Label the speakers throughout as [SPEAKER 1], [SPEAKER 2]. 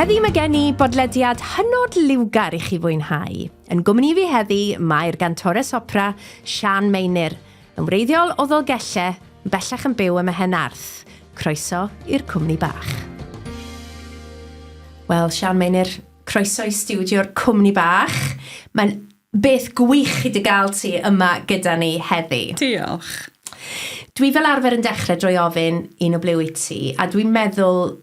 [SPEAKER 1] Heddi mae gen i bodlediad hynod liwgar i chi fwynhau. Yn gwmni fi heddi mae'r gantores opera Sian Meinir, yn wreiddiol o Ddolgelle, yn bellach yn byw ym Mehen Arth. Croeso i'r cwmni bach. Wel, Sian Meinir, croeso i stiwdio'r cwmni bach. Mae'n Beth gwych i dy gael ti yma gyda ni heddi. Diolch.
[SPEAKER 2] Dwi
[SPEAKER 1] fel arfer yn dechrau drwy ofyn un o ble wyt ti, a dwi'n meddwl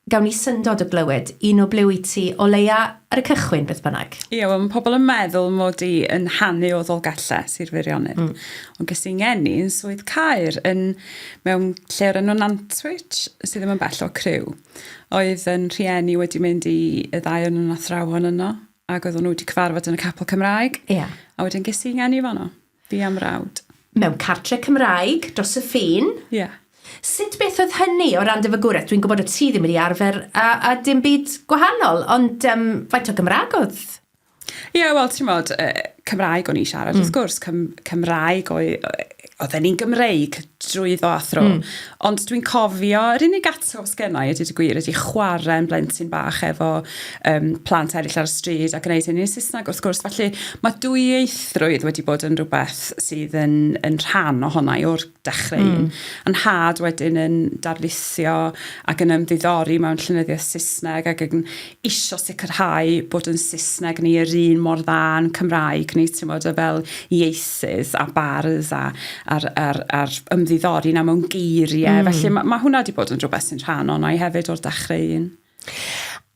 [SPEAKER 1] gawn ni syndod o glywed un o ble wyt ti o leia ar y cychwyn beth bynnag. Ie, wel mae pobl yn
[SPEAKER 2] meddwl mod i yn hanu o Ddolgellau, Sir Feirionnydd. Mm. Ond ges i ngeni yn Swydd Caer yn mewn lle o'r enw Nantwich sydd ddim yn bell o Criw. Oedd yn rhieni wedi mynd i y ddau o'n nhw'n athrawon yno ac oedden nhw wedi cyfarfod yn y capel Cymraeg. Ia. Yeah. A wedyn ges
[SPEAKER 1] i ngeni
[SPEAKER 2] fanno, fi am rawd. Mewn cartre
[SPEAKER 1] Cymraeg, dros y ffin. Ia. Yeah.
[SPEAKER 2] Sut beth oedd
[SPEAKER 1] hynny o ran dy fagwraeth? Dwi'n gwybod o ti ddim wedi arfer a, a dim byd gwahanol, ond um, faint o Gymraeg oedd? Ie, yeah, wel,
[SPEAKER 2] ti'n modd, uh, Cymraeg o'n i siarad, mm. wrth gwrs, Cym Cymraeg o'i... Oedden ni'n Gymreig drwyddo a thro. Mm. Ond dwi'n cofio, yr unig atgof sgennau, i dweud y gwir, ydy chwarae yn blentyn bach efo um, plant eraill ar y stryd a gwneud hynny'n Saesneg wrth gwrs. Felly mae dwyieithrwydd wedi bod yn rhywbeth sydd yn, yn rhan ohona i o'r dechrau mm. un. Yn had wedyn yn darlithio ac yn ymddiddori mewn llunyddiaeth Saesneg ac yn isio sicrhau bod yn Saesneg ni yr un mor dda yn Cymraeg ni, ti'n bod, o fel ieithydd a bardd a, ar, ar, ar ymddiddori na mewn geiriau. Mm. Felly mae ma hwnna wedi bod yn rhywbeth sy'n rhan o'na i hefyd o'r dechrau un.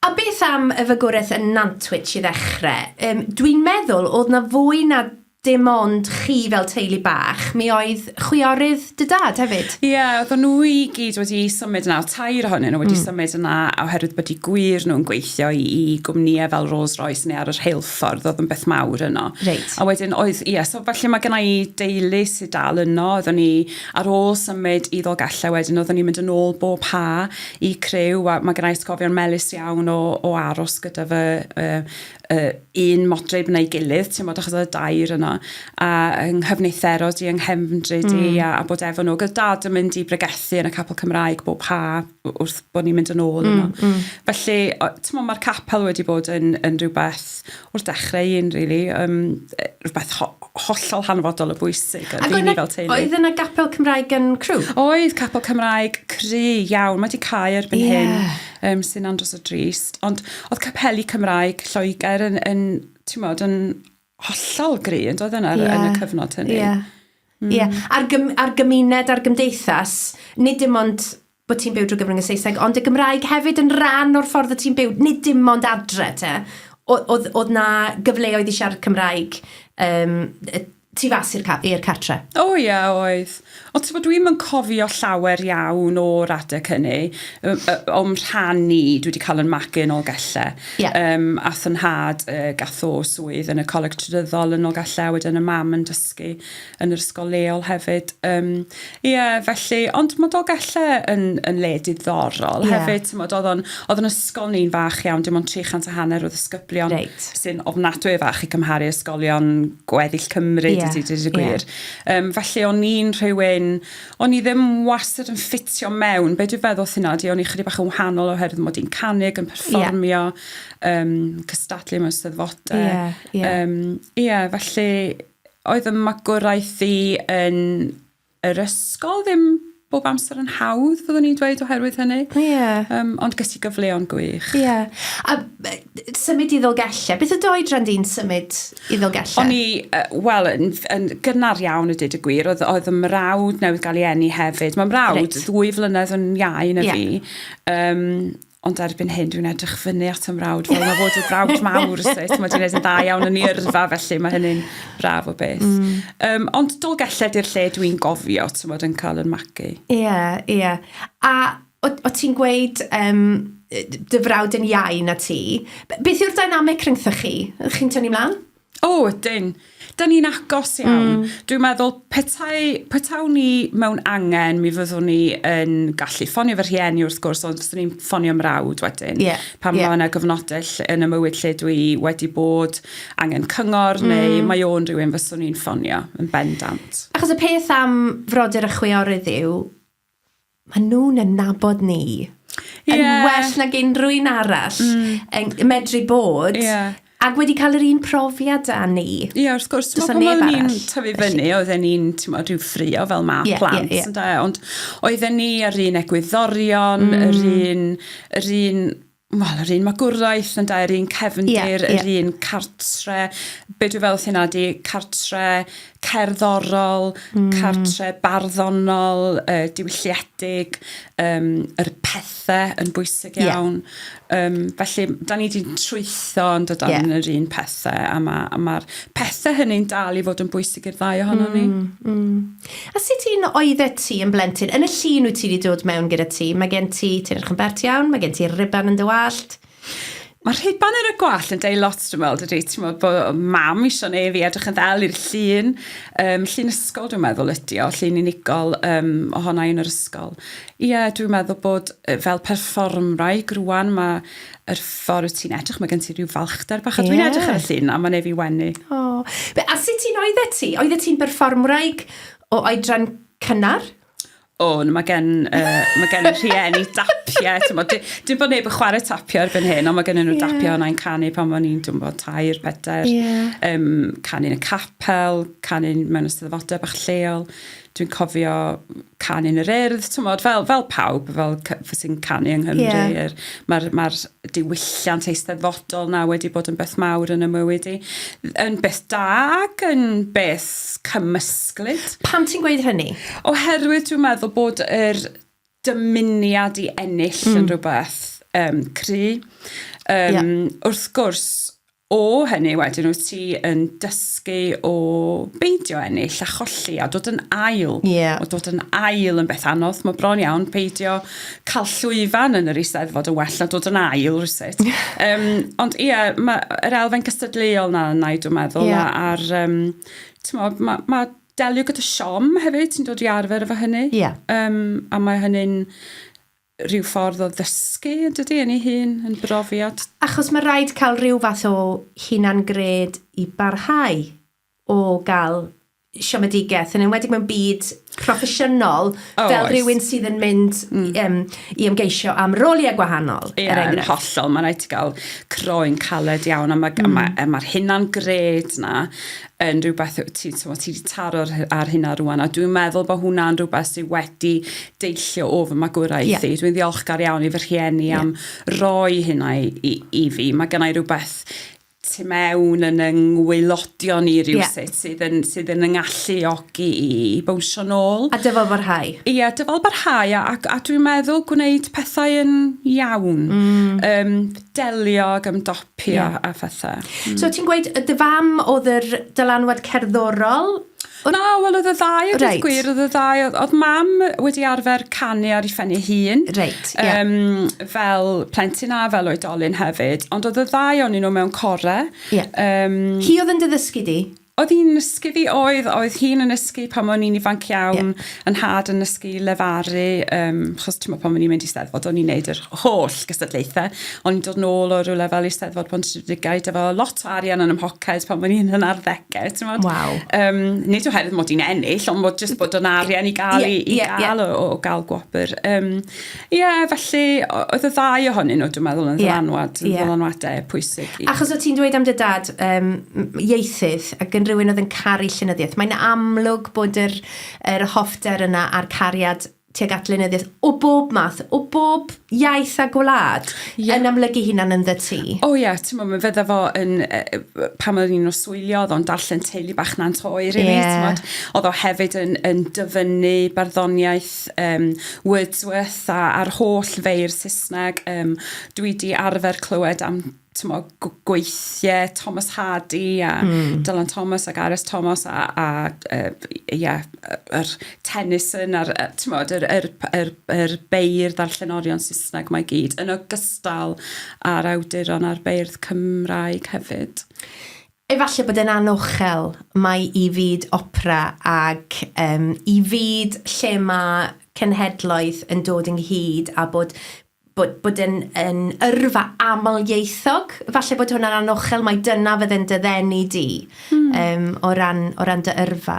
[SPEAKER 2] A
[SPEAKER 1] beth am y fygwraeth yn Nantwich i ddechrau? Um, Dwi'n meddwl oedd na fwy na dim ond chi fel teulu bach, mi oedd chwiorydd dy dad hefyd? Ie, yeah, oedden nhw i
[SPEAKER 2] gyd wedi symud yna, tair ohonyn nhw wedi mm. symud yna oherwydd bod i gwir nhw'n gweithio i, i gwmnïau fel Rolls Royce neu ar yr heilffordd, oedd yn beth mawr yno. Reit. A wedyn oedd,
[SPEAKER 1] ie, yeah, so
[SPEAKER 2] falle mae gennau i deulu sydd dal yno, oedden ni ar ôl symud i ddolgellau wedyn, oedden ni'n mynd yn ôl bob ha i crew, a mae gennau ysgofion melus iawn o, o aros gyda fy, uh, yy un modryb na'i gilydd t'mod achos o'dd y dair yna a yng nghyfnither odd 'i yng nghefndryd i... Hmm. ...a a bod efo n'w ag o'dd dad yn mynd i bregethu yn y capel Cymraeg bob ha' w- wrth bo' ni'n mynd yn ôl yno. Hmm hmm. Felly o- t'mo' ma'r capel wedi bod yn yn rwbeth wrth dechre i un rili yym yy rwbeth ho- hollol hanfodol o bwysig yy i ni fel teulu. Ag oedd yna gapel Cymraeg
[SPEAKER 1] yn Crewe? Oedd capel Cymraeg
[SPEAKER 2] cry iawn ma' 'di cau erbyn hyn. Ie. um, sy'n andros o drist. Ond oedd capeli Cymraeg Lloegr yn, yn ti'n modd, yn hollol gry, yn doedd yna yeah. yn y cyfnod hynny. Yeah. Mm. Yeah.
[SPEAKER 1] A'r, gym, ar gymuned, a'r gymdeithas, nid dim ond bod ti'n byw drwy gyfrwng y Saesneg, ond y Gymraeg hefyd yn rhan o'r ffordd y ti'n byw, nid dim ond adre te. Oedd na gyfleoedd i siarad Cymraeg um, tu fas i'r ca- i'r cartre. O ie, oedd.
[SPEAKER 2] Ond ti'n gwybod, dwi'm yn cofio llawer iawn o'r adeg hynny. Yy yy, o'm rhan i, dwi wedi cael yn magu yn Nolgelle. Ie. Yym, ath 'y nhad, yy, gath o swydd yn y Coleg Trydyddol yn Nolgelle, a wedyn y mam yn dysgu yn yr ysgol leol hefyd. Yym, Ie yeah, felly, ond mae Dolgellau yn, yn le diddorol yeah. hefyd, ti'n oedd o'n, oedd yn ysgol ni'n fach iawn, dim ond 300 a hanner o ddisgyblion right. sy'n ofnadwy o fach i cymharu ysgolion gweddill Cymru, yeah. dydy, dydy yeah. gwir. Um, felly o'n i'n rhywun, o'n i ddim wastad yn ffitio mewn, be dwi'n feddwl sy'n di, o'n i chydig bach yn wahanol oherwydd mod i'n canig, yn perfformio, yeah. um, cystadlu mewn steddfodau. Ie, yeah, yeah. um, yeah, felly, oedd y magwraeth i yn yr ysgol ddim bob amser yn hawdd, fyddwn i'n dweud, oherwydd hynny. Ie. Yeah. Um, ond gysi gyfleon gwych. Ie. Yeah.
[SPEAKER 1] A symud i ddolgellau. Beth y doi dran di'n symud i ddolgellau? O'n i, uh, wel,
[SPEAKER 2] yn, yn gynnar iawn y dyd y gwir, oedd, oedd y mrawd newydd gael ei enni hefyd. Mae mrawd right. ddwy flynedd yn iau na yeah. fi. Um, Ond erbyn hyn, dwi'n edrych fyny at y mrawd fel mae fod y brawd mawr, so ti'n meddwl, dwi'n yn da iawn yn ei yrfa, felly mae hynny'n braf o beth. Mm. Um, ond dol gelled i'r lle dwi'n gofio, ti'n meddwl, yn cael yn magu. Ie, yeah, ie. Yeah.
[SPEAKER 1] A o, o ti'n gweud, um, dy frawd yn iau na ti, beth yw'r dynamic rhyngthoch chi? Chi'n tynnu mlaen? O, ydyn.
[SPEAKER 2] Da ni'n agos iawn. Mm. Dwi'n meddwl, petai, petawn ni mewn angen, mi fyddwn ni yn gallu ffonio fy rhieni wrth gwrs, ond fyswn ni'n ffonio mrawd wedyn. Yeah. Pan yeah. mae yna gyfnodau yn y mywyd lle dwi wedi bod angen cyngor, mm. neu mae o'n rhywun fyswn ni'n ffonio yn bendant. Achos y peth am
[SPEAKER 1] frodyr y chwiorydd yw, maen nhw'n yn nabod ni. Yeah. Yn well nag unrhyw un arall. Mm. Yn medru bod. Yeah. Ac wedi cael yr un profiad â ni. Ie, yeah, wrth gwrs. Does neb arall.
[SPEAKER 2] Pan ni'n tyfu fyny, oedden ni'n, ti'n modd, rhyw ffrio fel ma yeah, plant, yeah, yeah. Ond oedden ni yr un egwyddorion, mm. yr un, yr un Wel, yr un magwraeth, yn da, yr un cefndir, yeah, yr yeah. un cartre. Be dwi'n fel hynna di, cartre cerddorol, mm. cartre barddonol, uh, diwylliedig, um, yr pethau yn bwysig iawn. Yeah. Um, felly, da ni wedi trwytho yn dod yeah. yr un pethau, a mae'r ma, ma pethau hynny'n dal i fod yn bwysig i'r ddau ohono mm, ni. Mm. A
[SPEAKER 1] sut un oeddet ti yn blentyn? Yn y llun wyt ti 'di dod mewn gyda ti, mae gen ti, ti'n edrych yn bert iawn, mae gen ti'r riban yn dy wallt. Mae
[SPEAKER 2] rhiban ar y gwallt yn deud lot dwi'n meddwl, dydy? Ti'n meddwl bod mam eisiau neu fi edrych yn ddel i'r llun. Um, llun ysgol dwi'n meddwl ydy o, llun unigol um, ohona i yn yr ysgol. Ie, yeah, dwi'n meddwl bod fel perfformwraig rwan mae yr ffordd ti'n edrych, mae gen ti rhyw falchder bach, a dwi'n yeah. edrych ar y llun, a mae'n ei fi wenu. Oh. Be, a sut
[SPEAKER 1] ti'n oeddet ti? Oeddet ti'n berfformwraig o oedran cynnar? O, oh,
[SPEAKER 2] mae gen, uh, mae gen rhieni dapiau, ti'n bod, dim bod neb yn chwarae tapio ar ben hyn, ond mae gen nhw yeah. dapio yna yn canu pan o'n i'n dwi'n bod tair, pedair, yeah. um, canu'n y capel, canu'n mewn ysteddfodau bach lleol. dwi'n cofio canu yn yr urdd, tymod, fel, fel pawb, fel sy'n canu yng Nghymru. Yeah. Er, Mae'r ma diwylliant eisteddfodol na wedi bod yn beth mawr yn y mywyd i. Yn beth da ac yn beth cymysglyd. Pan ti'n gweud
[SPEAKER 1] hynny? Oherwydd dwi'n
[SPEAKER 2] meddwl bod yr dymuniad i ennill mm. yn rhywbeth um, cry. Um, yeah. Wrth gwrs, O hynny wedyn wyt ti yn dysgu o beidio ennill a cholli a dod yn ail. Yeah. O dod yn ail yn beth anodd. Mae bron iawn peidio cael llwyfan yn yr eisteddfod yn well na dod yn ail rhywsut. um, ond ie, yeah, mae'r elfen gystadleuol na yna i dwi'n meddwl. Yeah. A'r, um, ti'n mae ma delio gyda siom hefyd, ti'n dod i arfer efo hynny. Yeah. Um, a mae hynny'n rhyw ffordd o ddysgu yn dydi, yn ei hun, yn brofiad. Achos mae rhaid
[SPEAKER 1] cael rhyw fath o hunan-gred i barhau o gael siomedigaeth, yn enwedig mewn byd proffesiynol, oh, fel oes. rhywun sydd yn mynd mm. um, i ymgeisio am roliau gwahanol, yeah, er enghraifft. hollol,
[SPEAKER 2] mae'n rhaid i gael croen caled iawn, a mae'r mm. ma, ma hunan-gred na yn rhywbeth ti, ti, ti wedi taro ar hynna rwan, a dwi'n meddwl bod hwnna'n rhywbeth sydd wedi deillio o fy magwraeth yeah. i. Dwi'n ddiolchgar iawn i fy rhieni yeah. am roi hynna i, i, i fi. Mae gennau rhywbeth tu mewn yn yng ngwylodion ni rhywsut yeah. sydd, yn, sydd yn yng ngalluogi i bwysio nôl. A dyfal barhau. Ie, yeah,
[SPEAKER 1] dyfal barhau
[SPEAKER 2] a, a, a dwi'n meddwl gwneud pethau yn iawn. Mm. Um, delio ag ymdop pio yeah. a phetha. Mm. So ti'n gweud y
[SPEAKER 1] dy fam oedd yr dylanwad cerddorol? Na, wel
[SPEAKER 2] oedd y ddau, oedd right. gwir, oedd y ddau, oedd mam wedi arfer canu ar ei phen ei hun, right, yeah. um, fel plentyn a fel oedolyn hefyd, ond oedd y ddau o'n nhw mewn core. Yeah. Um,
[SPEAKER 1] Hi oedd yn dy ddysgu di? Oedd hi'n nysgu
[SPEAKER 2] fi? Oedd, oedd hi'n yn nysgu pan o'n i'n ifanc iawn, yeah. yn had yn nysgu lefaru, um, chos ti'n pan o'n i'n mynd i steddfod, o'n i'n neud yr holl gystadlaethau, o'n i'n dod nôl o rhywle fel i steddfod pan ti'n rhywdigau, efo lot o arian yn ymhoced pan o'n i'n yn arddegau, ti'n modd? Wow. Um, nid oherwydd mod i'n ennill, ond mod jyst bod o'n arian i gael, yeah, i, i yeah, gael yeah. O, o gael gwobr. Um, Ie, yeah, felly, oedd y ddau ohonyn nhw, dwi'n meddwl, yn yeah. ddylanwad, yn yeah. ddylanwadau pwysig. I... Achos o ti'n dweud am dy
[SPEAKER 1] dad um, ieithydd, ac yn rhywun oedd yn caru llenyddiaeth, mae'n amlwg bod yr, yr hoffter yna a'r cariad tuag at lenyddiaeth o bob math, o bob iaith a gwlad yeah. yn amlygu hunan yn ddy ti. O oh, ie, yeah, ti'n meddwl, fydda
[SPEAKER 2] fo yn, uh, pan oedd ni'n oswylio, oedd o'n darllen teulu bach na'n toi, rili, yeah. ti'n oedd o hefyd yn, yn dyfynnu barddoniaeth Wordsworth yym Wordsworth a a'r holl feirdd Saesneg yym dwi 'di arfer clywed am t'mo' gw- gweithie Thomas Hardy a... Hmm. ...Dylan Thomas ac Aris Thomas a a yy b- ie yy yr Tennyson a'r yy t'mod yr yr p- yr yr beirdd a'r llenorion Saesneg 'ma i gyd yn ogystal â'r awduron a'r beirdd Cymraeg hefyd. Efallai
[SPEAKER 1] bod e'n anochel, mai i fyd opera ac yym i fyd lle mae cenhedloedd yn dod ynghyd a bod bod bod e'n yn yrfa amlieithog, falle bod hwnna'n anochel, mai dyna fydde'n dy ddenu di... Hmm. ...yym o ran o ran dy yrfa.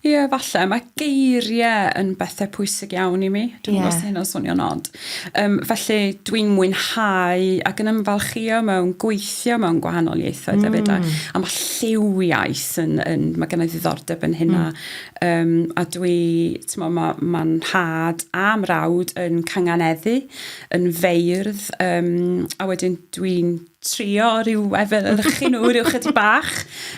[SPEAKER 1] Ie falle
[SPEAKER 2] mae geirie yn bethe pwysig iawn i mi. Dwi'm yn gwbo os 'di hynna'n swnio'n od. Yym felly dwi'n mwynhau ac yn ymfalchïo mewn gweithio mewn gwahanol ieithoedd hefyd a a ma' lliw iaith yn yn ma' gennai ddiddordeb yn hynna yym a dwi t'mo' ma' ma'n nhad a mrawd yn canganeddu yn feirdd yym a wedyn dwi'n trio rhyw efelychu nhw rhyw chydig bach.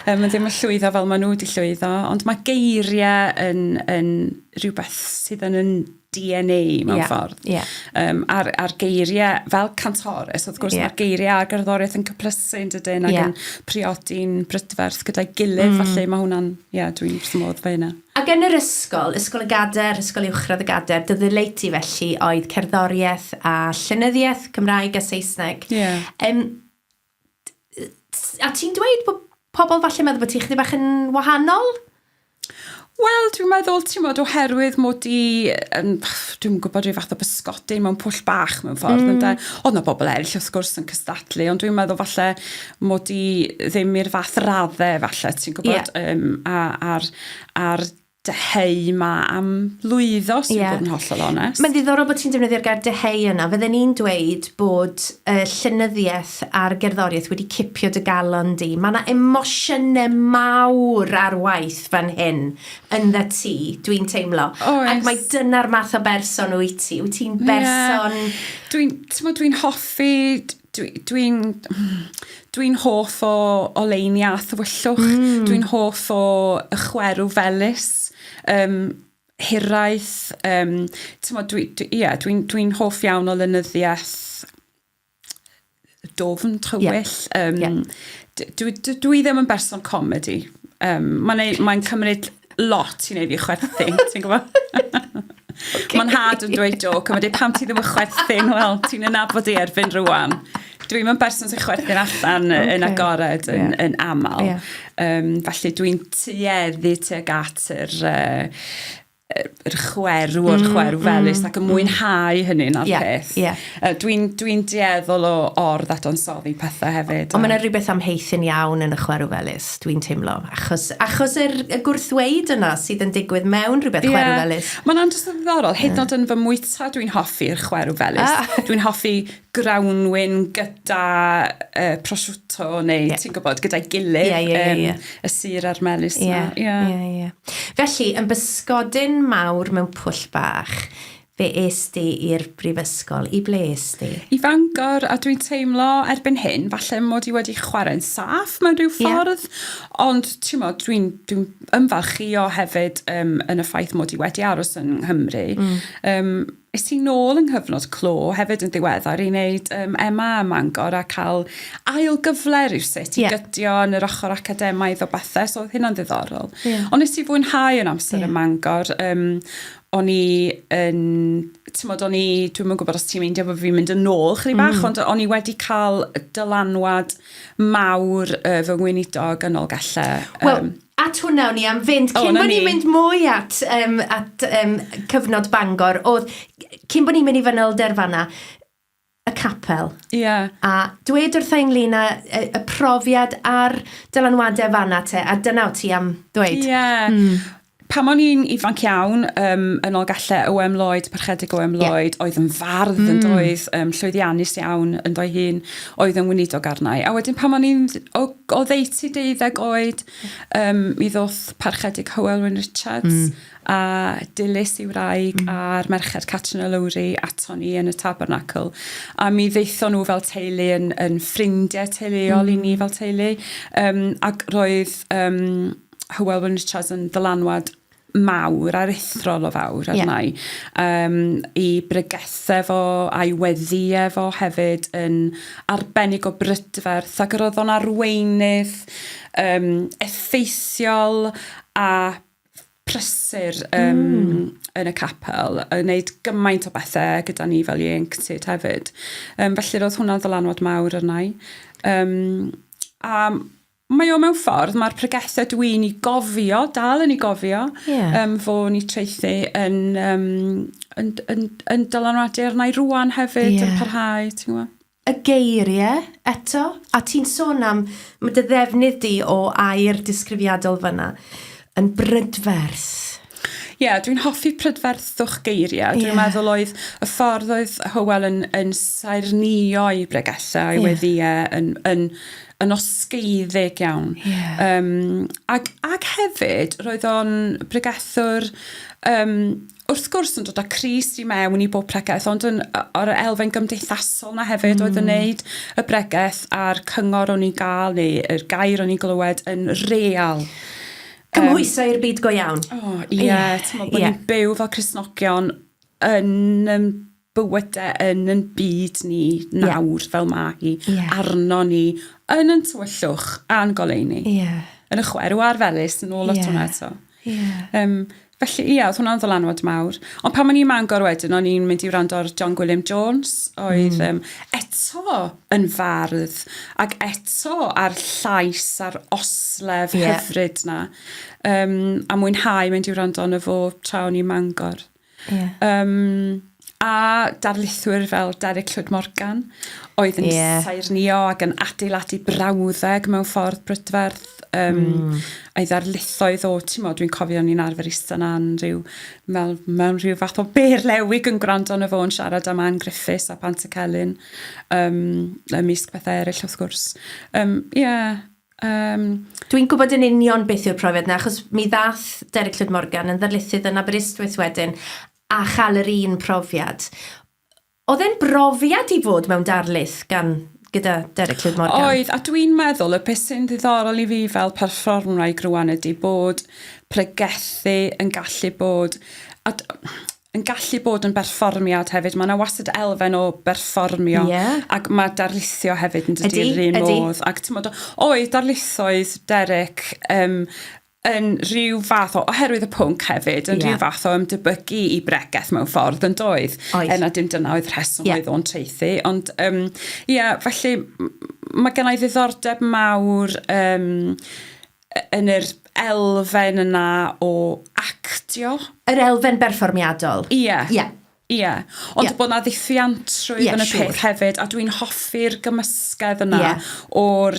[SPEAKER 2] Um, mae ddim yn llwyddo fel maen nhw wedi llwyddo, ond mae geiriau yn, yn rhywbeth sydd yn yn DNA mewn yeah, ffordd. Yeah. Um, a'r, ar geiriau, fel cantores, wrth gwrs, yeah. mae'r geiriau a gerddoriaeth yn cyplysu yn dydyn ac yeah. yn priodi'n brydferth gyda'i gilydd, mm. falle mae hwnna'n, ie, yeah, dwi'n wrth modd fe hynna. Ac yn yr ysgol,
[SPEAKER 1] Ysgol y Gadair, Ysgol Uwchradd y Gadair, dy ddileu ti felly oedd cerddoriaeth a llenyddiaeth, Cymraeg a Saesneg. Ie. Yeah. Um, a ti'n dweud bod pobl falle meddwl bod ti chydig bach yn wahanol?
[SPEAKER 2] Wel, dwi'n meddwl, ti'n modd, oherwydd mod i, um, dwi'n gwybod rhyw fath o bysgodyn mewn pwll bach mewn ffordd, mm. ynda. Oedd na bobl eraill, wrth gwrs, yn cystadlu, ond dwi'n meddwl falle mod i ddim i'r fath radde falle ti'n gwybod yeah. um, a, ar, ar dyheu ma am lwyddo sy'n yeah. bod yn hollol onest. Mae'n ddiddorol bod ti'n defnyddio'r
[SPEAKER 1] gair dyheu yna. Fydden ni'n dweud bod y uh, llynyddiaeth a'r gerddoriaeth wedi cipio dy galon di. Mae yna emosiynau mawr ar waith fan hyn yn dda ti, dwi'n teimlo. Oes. Ac mae dyna'r math o berson wyt ti. Wyt ti'n berson... Yeah.
[SPEAKER 2] Dwi'n dwi hoffi dwi'n dwi, dwi hoff o oleini a thywyllwch, mm. dwi'n hoff o y chwerw felus, um, hiraeth, um, dwi'n dwi, dwi, yeah, dwi, dwi hoff iawn o lenyddiaeth dofn, tywyll. Yeah. Um, yeah. Dwi, dwi, dwi ddim yn berson comedi. Um, Mae'n mae cymryd lot i wneud fi chwerthu, ti'n gwybod? okay. Mae'n hard yn dweud joc, a mae dweud pam ti ddim yn chwerthu'n wel, ti'n ynabod i erbyn rwan. Dwi'n mynd person sy'n chwerthu'n allan okay. yn agored yn, yeah. yn aml. Yeah. Um, felly dwi'n tueddu tuag at yr... Uh, yr chwerw o'r mm, chwerw felus mm, ac yn mm. mwynhau hynny'n ar yeah, peth. Yeah. Yy dwi'n dwi'n dueddol o or ddadansoddi pethe hefyd Ond ma' 'na rywbeth am haethyn
[SPEAKER 1] iawn yn y chwerw felys, dwi'n teimlo, achos achos yr y gwrthweud yna sydd yn digwydd mewn rhywbeth chwerw felys. Ie, ma'n andros o ddiddorol,
[SPEAKER 2] hyd yn o'd yn fy mwyta dwi'n hoffi'r chwerw felys. Ah! Dwi'n hoffi grawnwin gyda yy prosciutto neu ti'n gwybod, gyda'i gilydd. Ie, ie, ie, ie. Y sur a'r melys 'na. Ie. Ie. Ie, ie.
[SPEAKER 1] Felly, yn bysgodyn mawr mewn pwll bach, Be es di i'r brifysgol? I ble es di? I Fangor, a
[SPEAKER 2] dwi'n teimlo erbyn hyn falle mod i wedi chwarae'n saff mewn rhyw ffordd, yeah. ond ti'n modd, dwi'n dwi ymfalchio hefyd um, yn y ffaith mod i wedi aros yn Nghymru. Mm. Um, Is ti'n nôl yng nghyfnod clo hefyd yn ddiweddar i wneud um, Emma ym Mangor a cael ail gyfle rhywsut i yeah. gydio yn yr ochr academaidd o bethau, so oedd hynna'n ddiddorol. Yeah. Ond nes ti fwynhau yn amser yeah. ym Mangor, um, o'n i yn t'mod o'n i dwi'm yn gwbod os ti'n meindio bo' fi'n mynd yn ôl chydig bach... Hmm. ...ond o'n i wedi ca'l dylanwad mawr yy fy ngweinidog yn Nolgelle yym... Wel, at
[SPEAKER 1] hwnna o'n i am fynd... O 'na ni. ...cyn bo' ni'n mynd mwy at yym at yym cyfnod Bangor o'dd cyn bo' ni'n mynd i fanylder fan 'na y capel. Ie. A dwed wrtha i ynglyn â y, y profiad a'r dylanwade fanna te, a dyna o ti am ddweud. Ie. Mm.
[SPEAKER 2] Pam o'n i'n ifanc iawn, um, yn ol galle Oem Lloyd, parchedig Oem Lloyd, yeah. oedd yn fardd mm. yn doedd, um, llwyddiannus iawn yn doi hun, oedd yn wneud o garnau. A wedyn pam o'n i'n o, o ddeiti deuddeg oed, um, mi ddoth parchedig Hywel Wyn Richards, mm. a dilys i wraig mm. a'r merched Catrin a Lowri aton ni yn y Tabernacle a mi ddeithon nhw fel teulu yn, yn ffrindiau teuluol mm. i ni mm. fel teulu um, ac roedd um, Hywel Wyn Richards yn ddylanwad mawr a'r ethrol o fawr arna yeah. Um, i bregethau fo a'i weddi efo hefyd yn arbennig o brydferth ac yr oedd o'n arweinydd um, effeithiol a prysur um, mm. yn y capel, yn gwneud gymaint o bethau gyda ni fel ieuenctid hefyd. Um, felly roedd hwnna'n ddylanwad mawr arna i. Um, a mae o mewn ffordd, mae'r pregethau dwi'n i gofio, dal yn i gofio, yeah. um, fo ni treithi yn, um, yn, yn, yn dylanwadu arna i rwan hefyd, yeah. yn parhau, ti'n gwybod? Y geirie,
[SPEAKER 1] eto, a ti'n sôn am, ma' dy ddefnydd di o air disgrifiadol fan'na, yn brydferth. Ie,
[SPEAKER 2] dwi'n hoffi prydferthwch geiriau. Dwi'n yeah. meddwl oedd y ffordd oedd Hywel yn, yn saernïo'i bregethau yeah. wedi e, yn, yn, yn osgeiddeg iawn. Yeah. Um, ac, ac hefyd, roedd o'n bregethwr um, wrth gwrs yn dod â Cris i mewn i bob pregeth ond yn o- o'r elfen gymdeithasol 'na hefyd oedd yn hmm. neud y bregeth a'r cyngor o'n i'n ga'l neu yr gair o'n i'n glywed yn real. Cymhwyso
[SPEAKER 1] i'r byd go iawn. O ie, t'mo'
[SPEAKER 2] bo' ni'n byw fel Cristnogion yn yym bywyde yn yn byd ni nawr yeah. fel mae hi yeah. arno ni yn yn tywyllwch a'n goleuni. Yeah. Yn y chwerw a'r felus yn ôl at yeah. hwnna eto. Yeah. Um, felly ie, yeah, oedd hwnna'n ddylanwad mawr. Ond pan o'n i'n mangor wedyn, o'n i'n mynd i wrando ar John Gwilliam Jones, oedd mm. um, eto yn fardd, ac eto ar llais a'r oslef yeah. hyfryd na. Um, a mwynhau mynd i wrando yn y fo tra o'n i'n mangor. Yeah. Um, a darlithwyr fel Derek Llwyd Morgan oedd yn yeah. saernio ac yn adeiladu brawddeg mewn ffordd brydferth um, mm. a'i ddarlithoedd o, ti'n modd, dwi'n cofio ni'n arfer eistedd na'n rhyw, mewn, mewn rhyw fath o ber lewig yn gwrando yn y fo'n siarad am Anne Griffiths a Pant y Celyn, um, ymysg pethau eraill wrth gwrs. Um, yeah, Um...
[SPEAKER 1] Dwi'n gwybod yn union beth yw'r profiad yna, achos mi ddath Derek Llwyd Morgan yn ddarlithydd yn Aberystwyth wedyn a chael yr un profiad. Oedd e'n brofiad i fod mewn darlith gan gyda Derek Llwyd Morgan? Oedd, a dwi'n meddwl
[SPEAKER 2] y beth sy'n ddiddorol i fi fel perfformwraig rwan ydy bod pregethu yn gallu bod... A yn gallu bod yn berfformiad hefyd. Mae yna wastad elfen o berfformio yeah. ac mae darlithio hefyd yn dydy yr un modd. Ac ti'n modd, o'i darlithoedd Derek um, yn rhyw fath o, oherwydd y pwnc hefyd, yn yeah. rhyw fath o ymdebygu i bregeth mewn ffordd yn doedd. Oes. Yna dim dyna oedd rheswm yeah. oedd o'n treithi. Ond, ie, um, yeah, felly mae gennau ddiddordeb mawr um, yn yr elfen yna o actio. Yr elfen
[SPEAKER 1] berfformiadol? Ie. Ie. Ie.
[SPEAKER 2] Ond yeah. bod na ddiffiantrwydd yeah, yn y sure. peth hefyd, a dwi'n hoffi'r gymysgedd yna yeah. o'r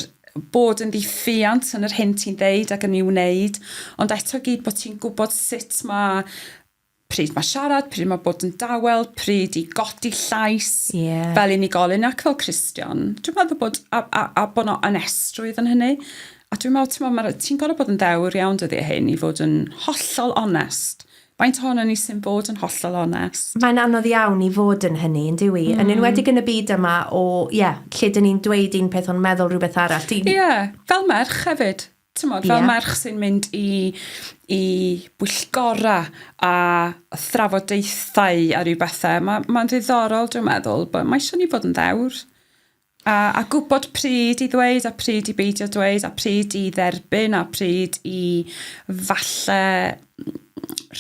[SPEAKER 2] bod yn ddiffiant yn yr hyn ti'n ddeud ac yn ei wneud, ond eto gyd bod ti'n gwybod sut mae pryd mae siarad, pryd mae bod yn dawel, pryd i godi llais yeah. fel unigolyn ac fel Cristion. Dwi'n meddwl bod, a, a, a bod nhw'n anestrwydd yn hynny. A dwi'n meddwl, ti'n meddwl, ti'n gorau bod yn ddewr iawn dyddiau hyn i fod yn hollol onest. Faint ohono ni sy'n bod yn hollol onest? Mae'n anodd iawn i fod
[SPEAKER 1] yn hynny, yn dyw i. Mm. Yn enwedig yn y byd yma o, ie, yeah, lle dyn ni'n dweud un peth ond meddwl rhywbeth arall. Ie, yeah, fel
[SPEAKER 2] merch hefyd. Tymod, fel yeah. merch sy'n mynd i, i bwyllgora a thrafodaethau a rhyw bethau, mae'n ma, ma ddiddorol, dwi'n meddwl, bod mae eisiau ni fod yn ddewr. A, a gwybod pryd i ddweud, a pryd i beidio dweud, a pryd i dderbyn, a pryd i falle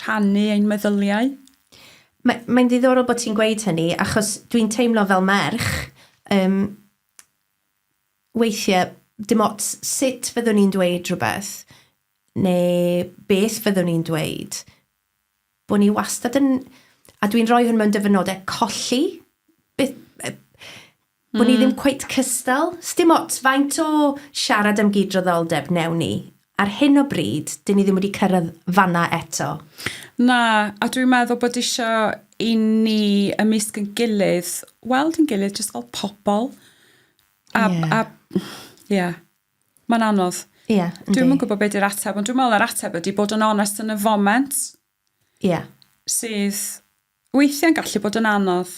[SPEAKER 2] rhannu ein meddyliau.
[SPEAKER 1] Mae'n mae ddiddorol bod ti'n gweud hynny, achos dwi'n teimlo fel merch, um, Weithiau, dim ots sut fyddwn i'n dweud rhywbeth, neu beth fyddwn i'n dweud, bod ni wastad yn... A dwi'n rhoi hwn mewn dyfynodau, colli. Beth, bod mm. ni ddim cweit cystal. Sdim ots faint o siarad am gydraddoldeb newn ni, Ar hyn o bryd, dyn ni ddim wedi cyrraedd fan'na eto. Na,
[SPEAKER 2] a dwi'n meddwl bod isio i ni ymysg yn gilydd, weld yn gilydd jyst fel pobl. A, yeah. a, ie. Yeah. Mae'n anodd. Ie, yeah, Dwi'n yn gwybod beth yw'r ateb, ond dwi'n meddwl yr ateb ydy bod yn onest yn y foment. Ie. Sydd weithiau'n gallu bod yn anodd.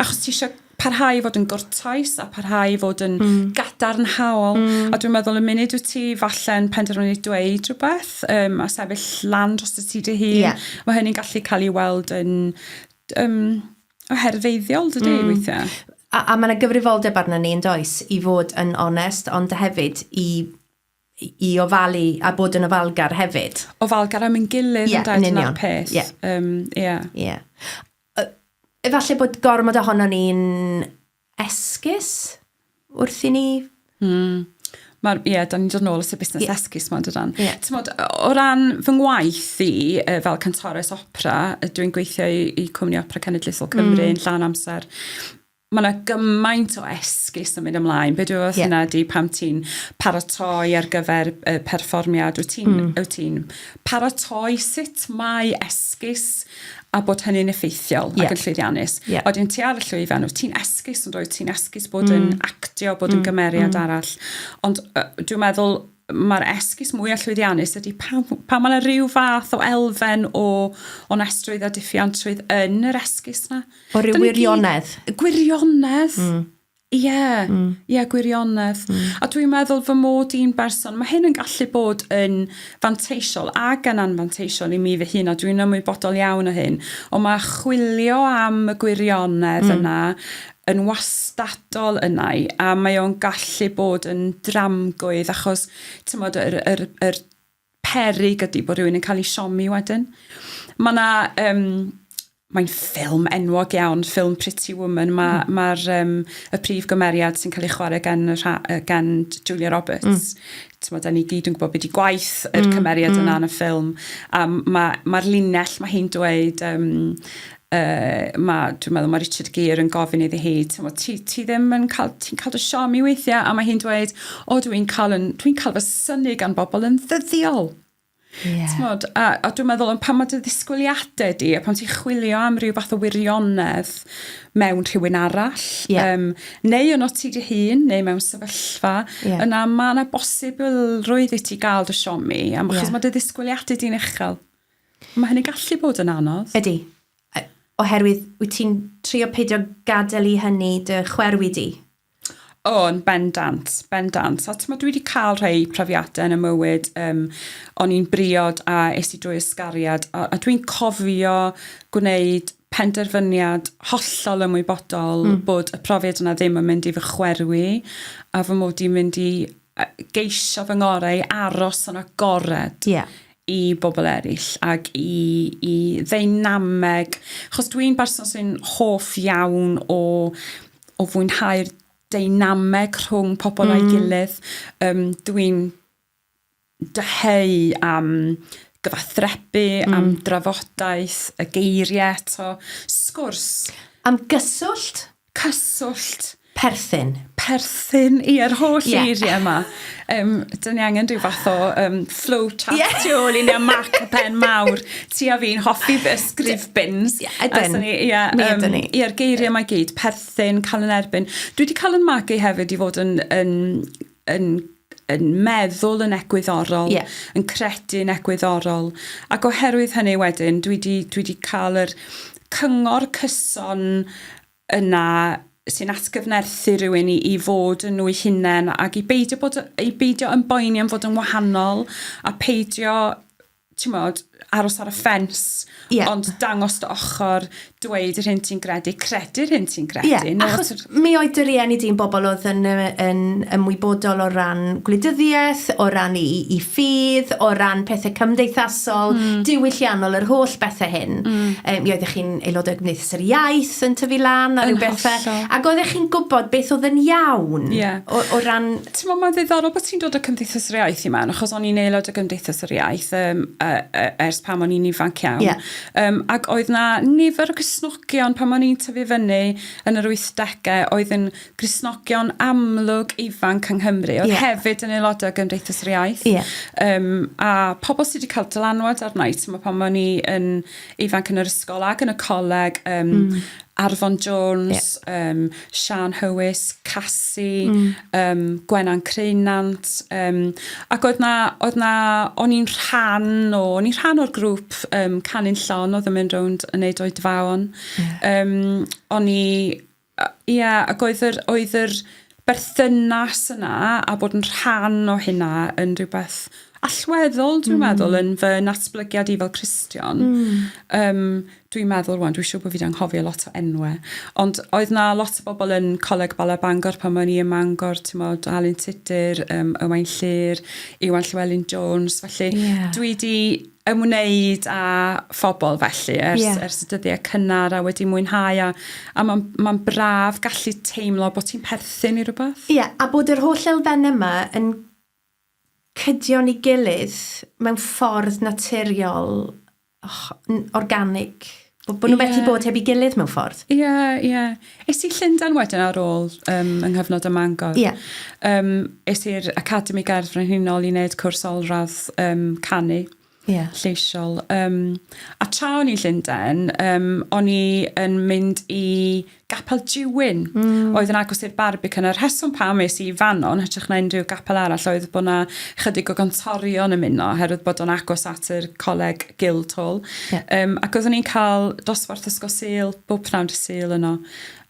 [SPEAKER 2] Achos ti eisiau parhau i fod yn gwrtais a parhau i fod yn mm. gadarnhaol. Mm. A dwi'n meddwl y munud wyt ti falle'n penderfynu dweud rhywbeth um, a sefyll lan dros y ti dy hun, yeah. mae hynny'n gallu cael ei weld yn um, oherfeiddiol dydy mm. weithiau. A, a mae yna
[SPEAKER 1] gyfrifoldeb arno ni yn does i fod yn onest, ond hefyd i i ofalu a bod yn ofalgar hefyd. Ofalgar am yn gilydd
[SPEAKER 2] yeah, yn dyna'r peth. Yeah. Um, yeah. yeah.
[SPEAKER 1] Uh, efallai bod gormod ohono ni'n esgus wrth i ni... Mm. Mae'r,
[SPEAKER 2] ie, yeah, da ni'n dod nôl at y busnes yeah. esgus ma'n dydan. Yeah. Tymod, o ran fy ngwaith i, uh, fel cantores opera, dwi'n gweithio i, i Cwmni Opera Cenedlaethol Cymru mm. yn llan amser mae yna gymaint o esgus yn mynd ymlaen. Be dwi'n yeah. yna di pam ti'n paratoi ar gyfer y perfformiad? Wyt ti'n mm. Wyt ti paratoi sut mae esgus a bod hynny'n effeithiol yeah. ac yn llwyddiannus. Yeah. Oedden ti ar y llwyfan, wyt ti'n esgus ond oedden ti'n esgus bod mm. yn actio, bod mm. yn gymeriad mm. arall. Ond uh, dwi'n meddwl mae'r esgus mwyaf llwyddiannus ydy pan, pan mae yna rhyw fath o elfen o onestrwydd a diffiantrwydd yn yr esgus na. O rhyw wirionedd.
[SPEAKER 1] Gwirionedd.
[SPEAKER 2] Mm. Ie, yeah, mm. ie, yeah, gwirionedd. Mm. A dwi'n meddwl fy mod i'n berson, mae hyn yn gallu bod yn fanteisiol ac yn anfanteisiol i mi fy hun, a dwi'n ymwybodol iawn o hyn, ond mae chwilio am y gwirionedd mm. yna yn wastadol yna i, a mae o'n gallu bod yn dramgwydd achos tymod yr, yr, yr perig ydy bod rhywun yn cael ei siomi wedyn. Mae yna, um, mae'n ffilm enwog iawn, ffilm Pretty Woman, mae'r mm. ma um, y prif gymeriad sy'n cael ei chwarae gan, gan Julia Roberts, mm. t'mod 'dan ni gyd yn gwbod be' 'di gwaith yr hmm, cymeriad yna hmm. yn y ffilm a ma' ma'r linell ma' hi'n dweud um, uh, ma' dwi'n meddwl ma' Richard Gere yn gofyn iddi hi t'mod ti ti ddim yn cael ti'n cael dy siom i weithiau a mae hi'n dweud o dwi'n cael yn dwi'n cael fy syni gan bobl yn ddyddiol Yeah. Tmod, a, a dwi'n meddwl yn pan mae dy ddisgwyliadau di, a pan ti'n chwilio am rhyw fath o wirionedd mewn rhywun arall, yeah. um, neu yn o ti dy hun, neu mewn sefyllfa, yeah. yna mae yna bosibilrwydd i ti gael dy siomi, a yeah. chos mae dy ddisgwyliadau di'n uchel. Mae hynny gallu bod yn anodd. Ydy.
[SPEAKER 1] Oherwydd, wyt ti'n trio peidio gadael i hynny dy chwerwi di? O, yn
[SPEAKER 2] bendant, bendant. A t'mod dwi wedi cael rhai profiadau yn y mywyd, um, o'n i'n briod a es i drwy ysgariad, a, a dwi'n cofio gwneud penderfyniad hollol ymwybodol mm. bod y profiad yna ddim yn mynd i fy chwerwi, a fy mod i'n mynd i geisio fy ngorau aros yn agored. Yeah i bobl eraill ac i, i ddeinameg. Chos dwi'n berson sy'n hoff iawn o o fwynhau'r deinameg rhwng pobl mm. a'i gilydd. Um, Dwi'n dyheu am gyfathrebu, mm. am drafodaeth, y geiriau eto, sgwrs. Am
[SPEAKER 1] gyswllt? Cyswllt.
[SPEAKER 2] Perthyn.
[SPEAKER 1] Perthyn,
[SPEAKER 2] i ar holl yeah. eiriau yma. Um, dyn ni angen rhyw fath o um, flow chart yeah. tu ôl i ni a mac a pen mawr. Ti a fi'n hoffi ysgrif bins. Ie, yeah, ydyn. Ni, yeah, Mi um, ni. Ie'r geiriau mae gyd, perthyn, cael yn erbyn. Dwi wedi cael yn magu hefyd i fod yn, yn, yn yn meddwl yn egwyddorol, yeah. yn credu yn egwyddorol. Ac oherwydd hynny wedyn, dwi wedi dwi cael yr cyngor cyson yna sy'n atgyfnerthu rhywun i, i fod yn nhw'i hunain ac i beidio bod i beidio yn boeni am fod yn wahanol a peidio ti'n modd aros ar y ffens yeah. ond dangos dy ochr dweud yr hyn ti'n gredu credu'r hyn ti'n credu yeah. no, achos yr... mi oedd dy
[SPEAKER 1] rieni di'n bobl oedd yn, yn ymwybodol o ran gwleidyddiaeth o ran i, i ffydd o ran pethau cymdeithas cymdeithasol, diwylliannol, yr holl bethau hyn. Yy, mi oeddech chi'n aelod o Gymdeithas yr Iaith yn tyfu lan a rhyw bethau. Ac oeddech chi'n gwybod beth oedd yn iawn o, o ran... Ti'n meddwl, mae'n ddiddorol bod
[SPEAKER 2] ti'n dod o Cymdeithas yr Iaith i mewn, achos o'n i'n aelod o Gymdeithas yr Iaith um, uh, uh, ers pam o'n i'n ifanc iawn. Yeah. Um, ac oedd na nifer o gysnogion pam o'n i'n tyfu fyny yn yr 80au oedd yn Gristnogion amlwg ifanc yng Nghymru, oedd yeah. hefyd yn aelodau o Gymdeithas yr Iaith. Yeah. Um, a pobl sydd wedi cael dylanwad arna i, ti'n pan o'n i yn ifanc yn yr ysgol ac yn y coleg, um, mm. Arfon Jones, yeah. um, Sian Hywys, Cassi, mm. um, Gwenan Creunant, um, ac oedd na, oedd na, o'n i'n rhan o, o'n i'n rhan o'r grŵp um, Canu'n Llon oedd yn mynd rownd yn neud oedfaon. Yeah. Um, o'n i Ia, ac oedd yr oedd yr berthynas yna a bod yn rhan o hynna yn rhywbeth allweddol dwi'n mm. meddwl yn fy natblygiad i fel Cristion. Mm. Um, dwi'n meddwl rwan, dwi'n siŵr bod fi wedi anghofio lot o enwau, ond oedd na lot o bobl yn Coleg Bala Bangor pan o'n i ym Mangor, ti'n modd, Alun Tudur, um, Ywain Llyr, Iwan Llewelyn Jones, felly yeah. dwi wedi ymwneud â phobl felly ers, yeah. ers y dyddiau cynnar a wedi mwynhau a, a mae'n ma braf gallu teimlo bod ti'n
[SPEAKER 1] perthyn
[SPEAKER 2] i
[SPEAKER 1] rhywbeth.
[SPEAKER 2] Ie,
[SPEAKER 1] yeah, a
[SPEAKER 2] bod yr
[SPEAKER 1] holl
[SPEAKER 2] elfen
[SPEAKER 1] yma yn cydion i gilydd mewn ffordd naturiol, oh, organig, Bod, bod nhw'n yeah. methu bod heb i gilydd mewn ffordd. Ie, yeah, ie. Yeah.
[SPEAKER 2] Es i Llundain wedyn ar ôl um, yng nghyfnod y Mangor. Ie. Yeah. Um,
[SPEAKER 1] es
[SPEAKER 2] i'r Academi Gerdd Frenhinol i wneud cwrs olradd um, canu. Yeah. lleisiol. Um, a tra o'n i'n Llundain, um, o'n i yn mynd i Gapel Juwyn oedd yn agos i'r Barbican. Y rheswm pam es i i fanno yn hytrach na unrhyw gapel arall oedd bod 'na chydig o gantorion yn muno oherwydd bod o'n agos at yr Coleg Guildhall. Ie. Yym ac oeddwn i'n cael dosbarth Ysgol Sul bob pnawn dy' Sul yno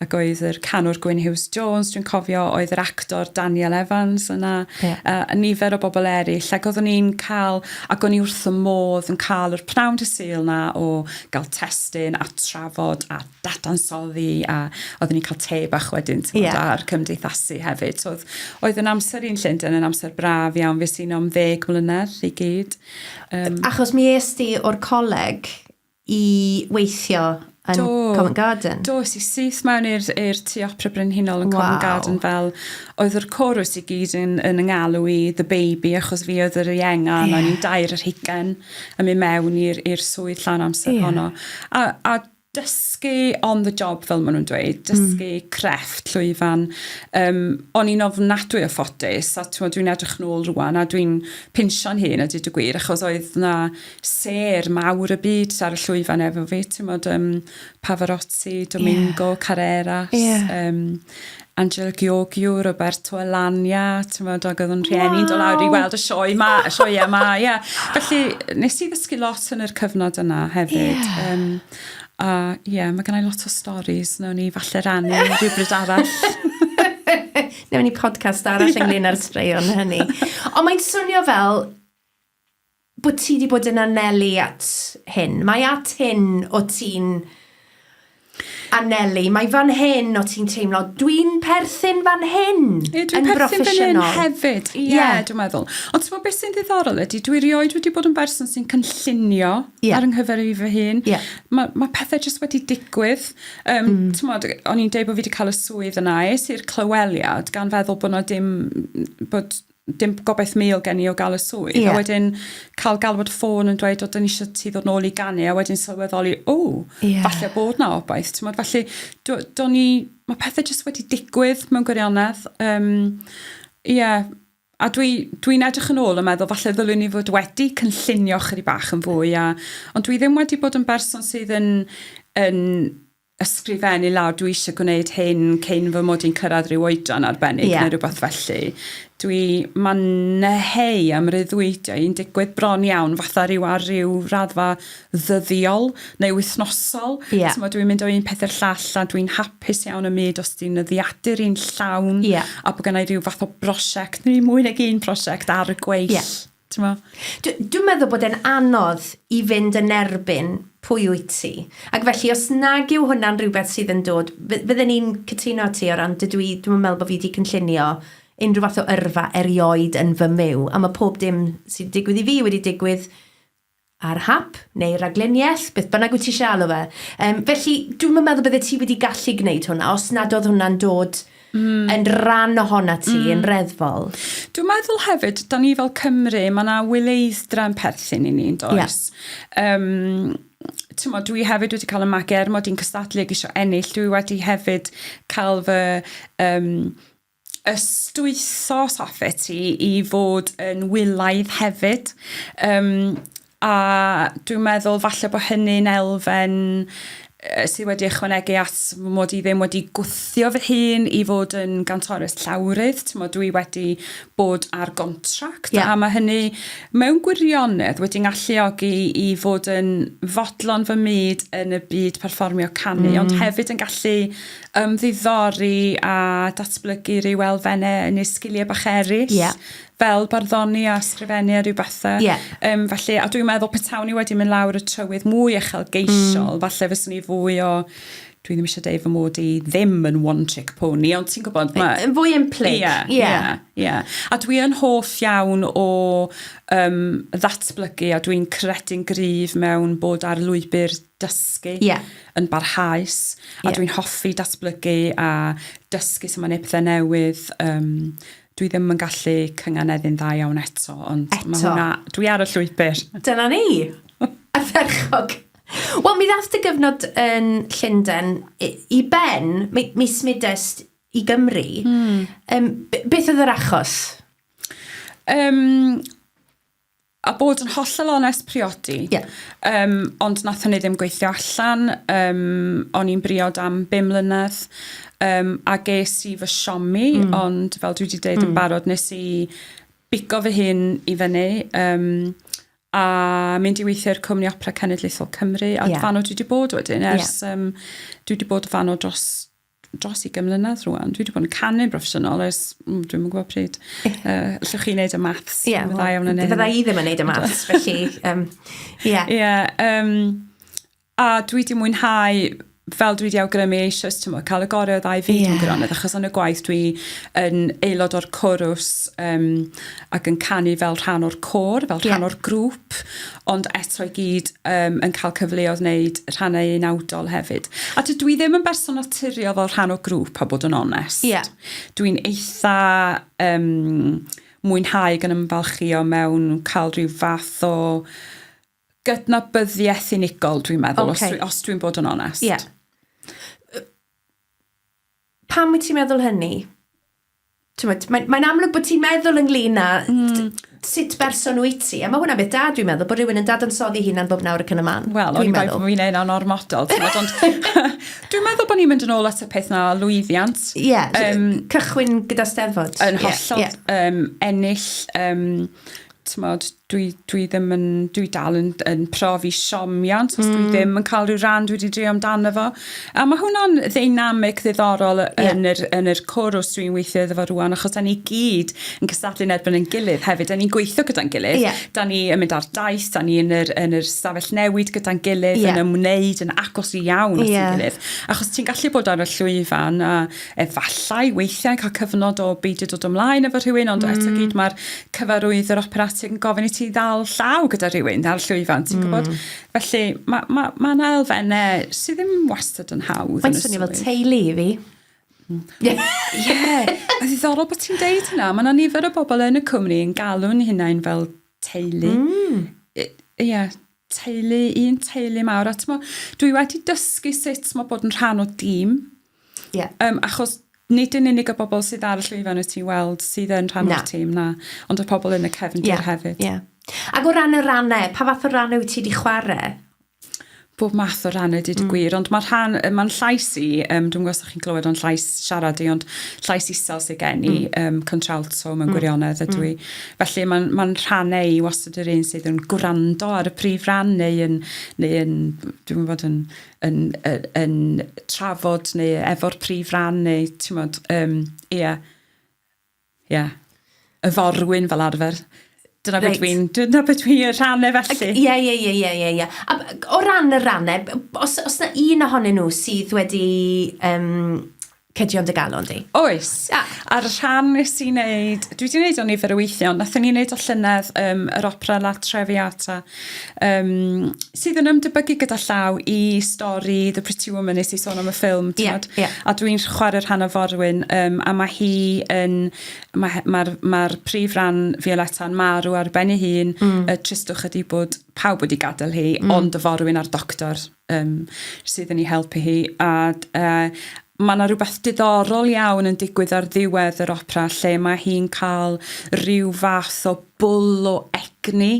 [SPEAKER 2] ac oedd yr canwr Gwyn Huws Jones dwi'n cofio oedd yr actor Daniel Evans yna. Ie. Yy a nifer o bobl eryll ac oeddwn i'n cael ac o'n i wrth fy modd yn cael yr pnawn dy' Sul 'na o ga'l testun a trafod a dadansoddi a oedden ni'n cael te bach wedyn t'mod... Ie. ...a'r cymdeithasu hefyd so o'dd oedd yn amser i yn Llunden yn amser braf iawn fues i'n am ddeg mlynedd i gyd yym... Achos mi
[SPEAKER 1] es di o'r coleg i weithio yn... Do. ...Covent Garden. Do es i syth mewn
[SPEAKER 2] i'r i'r Tŷ Opera Brenhinol yn Covent Garden... Waw. ...fel oedd yr corws i gyd yn yn 'y ngalw i the baby achos fi oedd yr ienga... Ie. ...a o'n i'n dair ar hugen yn myn' mewn i'r i'r swydd llawn amser honno. Ie. A a dysgu on the job fel maen nhw'n dweud, hmm. dysgu mm. crefft llwyfan. Um, o'n i'n ofnadwy o ffodus, a dwi'n edrych nôl rwan, a dwi'n pinsio'n hun a dyd y gwir, achos oedd na ser mawr y byd ar y llwyfan efo fi, ti'n modd, um, Pavarotti, Domingo, yeah. Carreras, yeah. um, Angela Gheorghiu, Roberto Alagna, t'mod ag oedd yn rhieni'n dod lawr i weld y sioe 'ma, y sioeau 'ma, ie. Felly, nes i ddysgu lot yn yr cyfnod yna hefyd. Ie. Yym, a ie, ma' gynna i lot o storis, newn ni falle rannu rhywbryd arall.
[SPEAKER 1] Newn ni podcast arall ynglyn â'r straeon hynny. Ond mae'n swnio fel bod ti wedi bod yn anelu at hyn. Mae at hyn o ti'n anelu. Mae fan hyn o ti'n teimlo, dwi'n perthyn fan hyn yeah, yn broffesiynol.
[SPEAKER 2] hefyd, ie, yeah, yeah. dwi'n meddwl. Ond ti'n beth sy'n ddiddorol ydy, dwi rioed wedi bod yn berson sy'n cynllunio yeah. ar ynghyfer i fy hun. Yeah. Mae ma pethau jyst wedi digwydd. Um, mm. Ti'n modd, o'n i'n deud bod fi wedi cael y swydd yna, es i'r clyweliad gan feddwl bod na dim, bod dim gobaith mil gen i o gael y swydd. Yeah. A wedyn cael galwad ffôn yn dweud, o, dyn ni eisiau ti ddod nôl i ganu, a wedyn sylweddoli, o, yeah. falle bod na obaith. Ti'n modd, felly, do, do ni, mae pethau jyst wedi digwydd mewn gwirionedd. Um, yeah. A dwi'n dwi, dwi edrych yn ôl yn meddwl, falle ddylwn ni fod wedi cynllunio chyri bach yn fwy, a, ond dwi ddim wedi bod yn berson sydd yn, yn ysgrifennu lawr dwi eisiau gwneud hyn cyn fy mod i'n cyrraedd rhyw oedran arbennig yeah. neu rhywbeth felly. Dwi, mae'n neheu am ryddwydiau i'n digwydd bron iawn fatha rhyw ar ryw raddfa ddyddiol neu wythnosol. Yeah. Tyma, dwi'n mynd o un peth i'r llall a dwi'n hapus iawn y myd os ti'n nyddiadur i'n llawn yeah. a bod gennau rhyw fath o brosiect neu mwy nag un prosiect ar y gweill. Yeah. T'mo? Dw,
[SPEAKER 1] dwi'n meddwl bod e'n anodd i fynd yn erbyn pwy wyt ti. Ac felly, os nag yw hwnna'n rhywbeth sydd yn dod... Fy- fydden i'n cytuno â ti o ran dydw i... Dwi'm yn meddwl bo' fi 'di cynllunio unrhyw fath o yrfa erioed yn fy myw, a ma' pob dim sy'n digwydd i fi wedi digwydd Ar hap, neu raglenniaeth, beth bynnag wyt ti eisiau alw fe. Yym, felly, dwi'm yn meddwl byddet ti wedi gallu gwneud hwnna os nad oedd hwnna'n dod yn rhan ohona ti yn reddfol. Dwi'n meddwl
[SPEAKER 2] hefyd, da ni fel Cymru, mae yna wyleiddra yn perthyn i ni, yn does? Yym, t'mod, dwi hefyd wedi cael y magu er mod i'n cystadlu ac eisiau ennill, dwi wedi hefyd cael fy... Um, ystwytho safle ti i fod yn wylaidd hefyd yym a dwi'n meddwl falle bo' hynny'n elfen yy sy wedi ychwanegu at fy mod i ddim wedi gwthio fy hun i fod yn gantores llawrydd t'mod dwi wedi bod ar gontract... Ie. ...a ma' hynny mewn gwirionedd wedi ngalluogi i fod yn fodlon fy myd yn y byd perfformio canu... Hmm. ...ond hefyd yn gallu ymddiddori a datblygu rhyw elfennau yn eu sgiliau bach eraill. Ie. Fel barddoni a sgrifennu a rhyw bethau. Ie. Yym felly, a dwi'n meddwl petawn i wedi mynd lawr y trywydd mwy uchelgeisiol... Mm. ...falle fyswn i fwy o dwi ddim isio deud fy mod i ddim yn one trick pony ond ti'n gwybod ma'... Yn fwy implyg. Ie. Ie.
[SPEAKER 1] Ie. Ie.
[SPEAKER 2] A dwi yn hoff iawn o yym ddatblygu a dwi'n credu'n gryf mewn bod ar lwybr dysgu yeah. yn barhaus a yeah. dwi'n hoffi datblygu a dysgu sut mae neu pethau newydd um, dwi ddim yn gallu cynganeddu'n dda iawn eto ond eto. mae hwnna dwi ar y llwybr dyna ni
[SPEAKER 1] a ferchog Wel, mi ddath dy gyfnod yn Llundain i ben, mi, mi smudest i Gymru. Mm. Um, beth oedd yr achos? Um,
[SPEAKER 2] A bod yn hollol onest priodi. Yeah. Um, ond nath hynny ddim gweithio allan. Um, o'n i'n briod am bum mlynedd. Um, a ges i fy siomi, mm. ond fel dwi wedi dweud mm. yn hmm. barod, nes i bigo fy hun i fyny. Um, a mynd i weithio'r Cwmni Opera Cenedlaethol Cymru. A yeah. fan o dwi wedi bod wedyn, ers... Yeah. Um, dwi wedi bod fan o dros dros i gymlynedd rhywun. Dwi wedi bod yn canu broffesiynol ers, mm, dwi'n mwyn gwybod pryd. Uh, allwch chi wneud y maths? Ie, yeah, well, iawn yn fydda
[SPEAKER 1] i ddim yn wneud y maths, felly, ie. Um, yeah. yeah, um,
[SPEAKER 2] a dwi wedi mwynhau fel dwi wedi awgrymu eisiau ti'n cael y gorau o ddau fyd yeah. mewn gwirionedd, achos yn y gwaith dwi yn aelod o'r corws um, ac yn canu fel rhan o'r cor, fel rhan yeah. o'r grŵp, ond eto i gyd um, yn cael cyfleoedd wneud rhannau unawdol hefyd. A dydw i ddim yn berson naturiol fel rhan o grŵp, a bod yn onest. Yeah. Dwi'n eitha um, mwynhau gan ymfalchio mewn cael rhyw fath o gydnabyddiaeth unigol, dwi'n meddwl, okay. os, dwi, os dwi'n bod yn onest. Yeah.
[SPEAKER 1] Pam wyt ti'n meddwl hynny? Tywed, mae'n mae amlwg bod ti'n meddwl ynglyn â mm. sut berson wyt ti. A mae hwnna'n beth da, dwi'n meddwl, bod rhywun yn dadansoddi hunan bob nawr ac yn y man. Wel, o'n i'n meddwl bod fi'n ein
[SPEAKER 2] o'n ormodol. dwi'n meddwl bod ni'n mynd yn ôl at y peth na lwyddiant. Ie, yeah, um, cychwyn
[SPEAKER 1] gyda steddfod. Yn hollol yeah, yeah.
[SPEAKER 2] um, ennill um, t'mod dwi dwi ddim yn dwi dal yn yn profi siomiant os dwi hmm. ddim yn cael rhyw ran dwi wedi drio amdano fo. A mae hwnna'n ddeinamic ddiddorol yn yr yn yr cwrs dwi'n weithio iddo fo rŵan achos 'dan ni gyd yn cystadlu'n erbyn ein gilydd hefyd. 'Dan ni'n gweithio gyda'n gilydd. Ie. 'Dan ni yn mynd ar daith, 'dan ni yn yr yn yr stafell newid gyda'n gilydd yn ymwneud yn agos iawn at 'yn gilydd. Achos ti'n gallu bod ar y llwyfan a efallai weithiau yn cael cyfnod o beidio dod ymlaen efo rhywun, ond mm. eto gyd mae'r cyfarwydd yr operatig yn gofyn i ti ddal llaw gyda rhywun, ddal llwyfan, ti'n mm. gwybod? Felly mae ma, ma yna elfennau sydd ddim wastad yn hawdd. Mae'n swnio fel teulu
[SPEAKER 1] i fi. Ie, yeah.
[SPEAKER 2] a ddiddorol bod ti'n deud hynna. Mae yna nifer o bobl yn y cwmni yn galw'n hunain fel teulu. Mm. Ie, yeah. teulu, un teulu mawr. A mo, dwi wedi dysgu sut mae bod yn rhan o dîm. Yeah. Um, achos nid yn unig y bobl sydd ar y llwyfan wyt ti'n weld sydd yn rhan o'r tîm na, ond y pobl yn y cefndir yeah. hefyd. Yeah. Ac o ran
[SPEAKER 1] y rannau, pa fath o rannau wyt ti wedi chwarae? bob
[SPEAKER 2] math o rannau dyd y mm. gwir, ond mae rhan, mae'n llais i, um, dwi'n gwybod chi'n clywed o'n llais siarad i, ond llais isel sy'n gen i, mm. um, contralto mewn mm. gwirionedd ydw mm. i. Mm. Felly mae'n ma rhannau i was yr un sydd yn gwrando ar y prif ran neu yn, neu yn dwi'n bod yn, yn, yn, yn trafod neu efo'r prif ran neu ti'n bod, um, ia, ia, y forwyn fel arfer. Dyna right. beth dwi'n, dyna beth dwi'n y rhannau felly. Ie, ie, ie, ie, ie, ie.
[SPEAKER 1] A o ran y rannau, os, os na un ohonyn nhw sydd wedi um, cydio yn dy galon di. Oes. A. A'r
[SPEAKER 2] rhan nes i wneud, dwi wedi wneud o nifer o weithiau, ond nathon ni wneud o llynedd, um, yr opera La Traviata, um, sydd yn ymdebygu gyda llaw i stori The Pretty Woman nes i sôn am y ffilm, ti'n yeah, yeah. a dwi'n chwarae rhan o forwyn, um, a mae hi yn, mae'r ma, r, ma r prif ran Violetta yn marw ar ben ei hun, mm. y tristwch ydi bod pawb wedi gadael hi, mm. ond y forwyn a'r doctor yym sydd yn ei helpu hi a yy ma' 'na rwbeth diddorol iawn yn digwydd ar ddiwedd yr opera lle mae hi'n cael rhyw fath o bwl o egni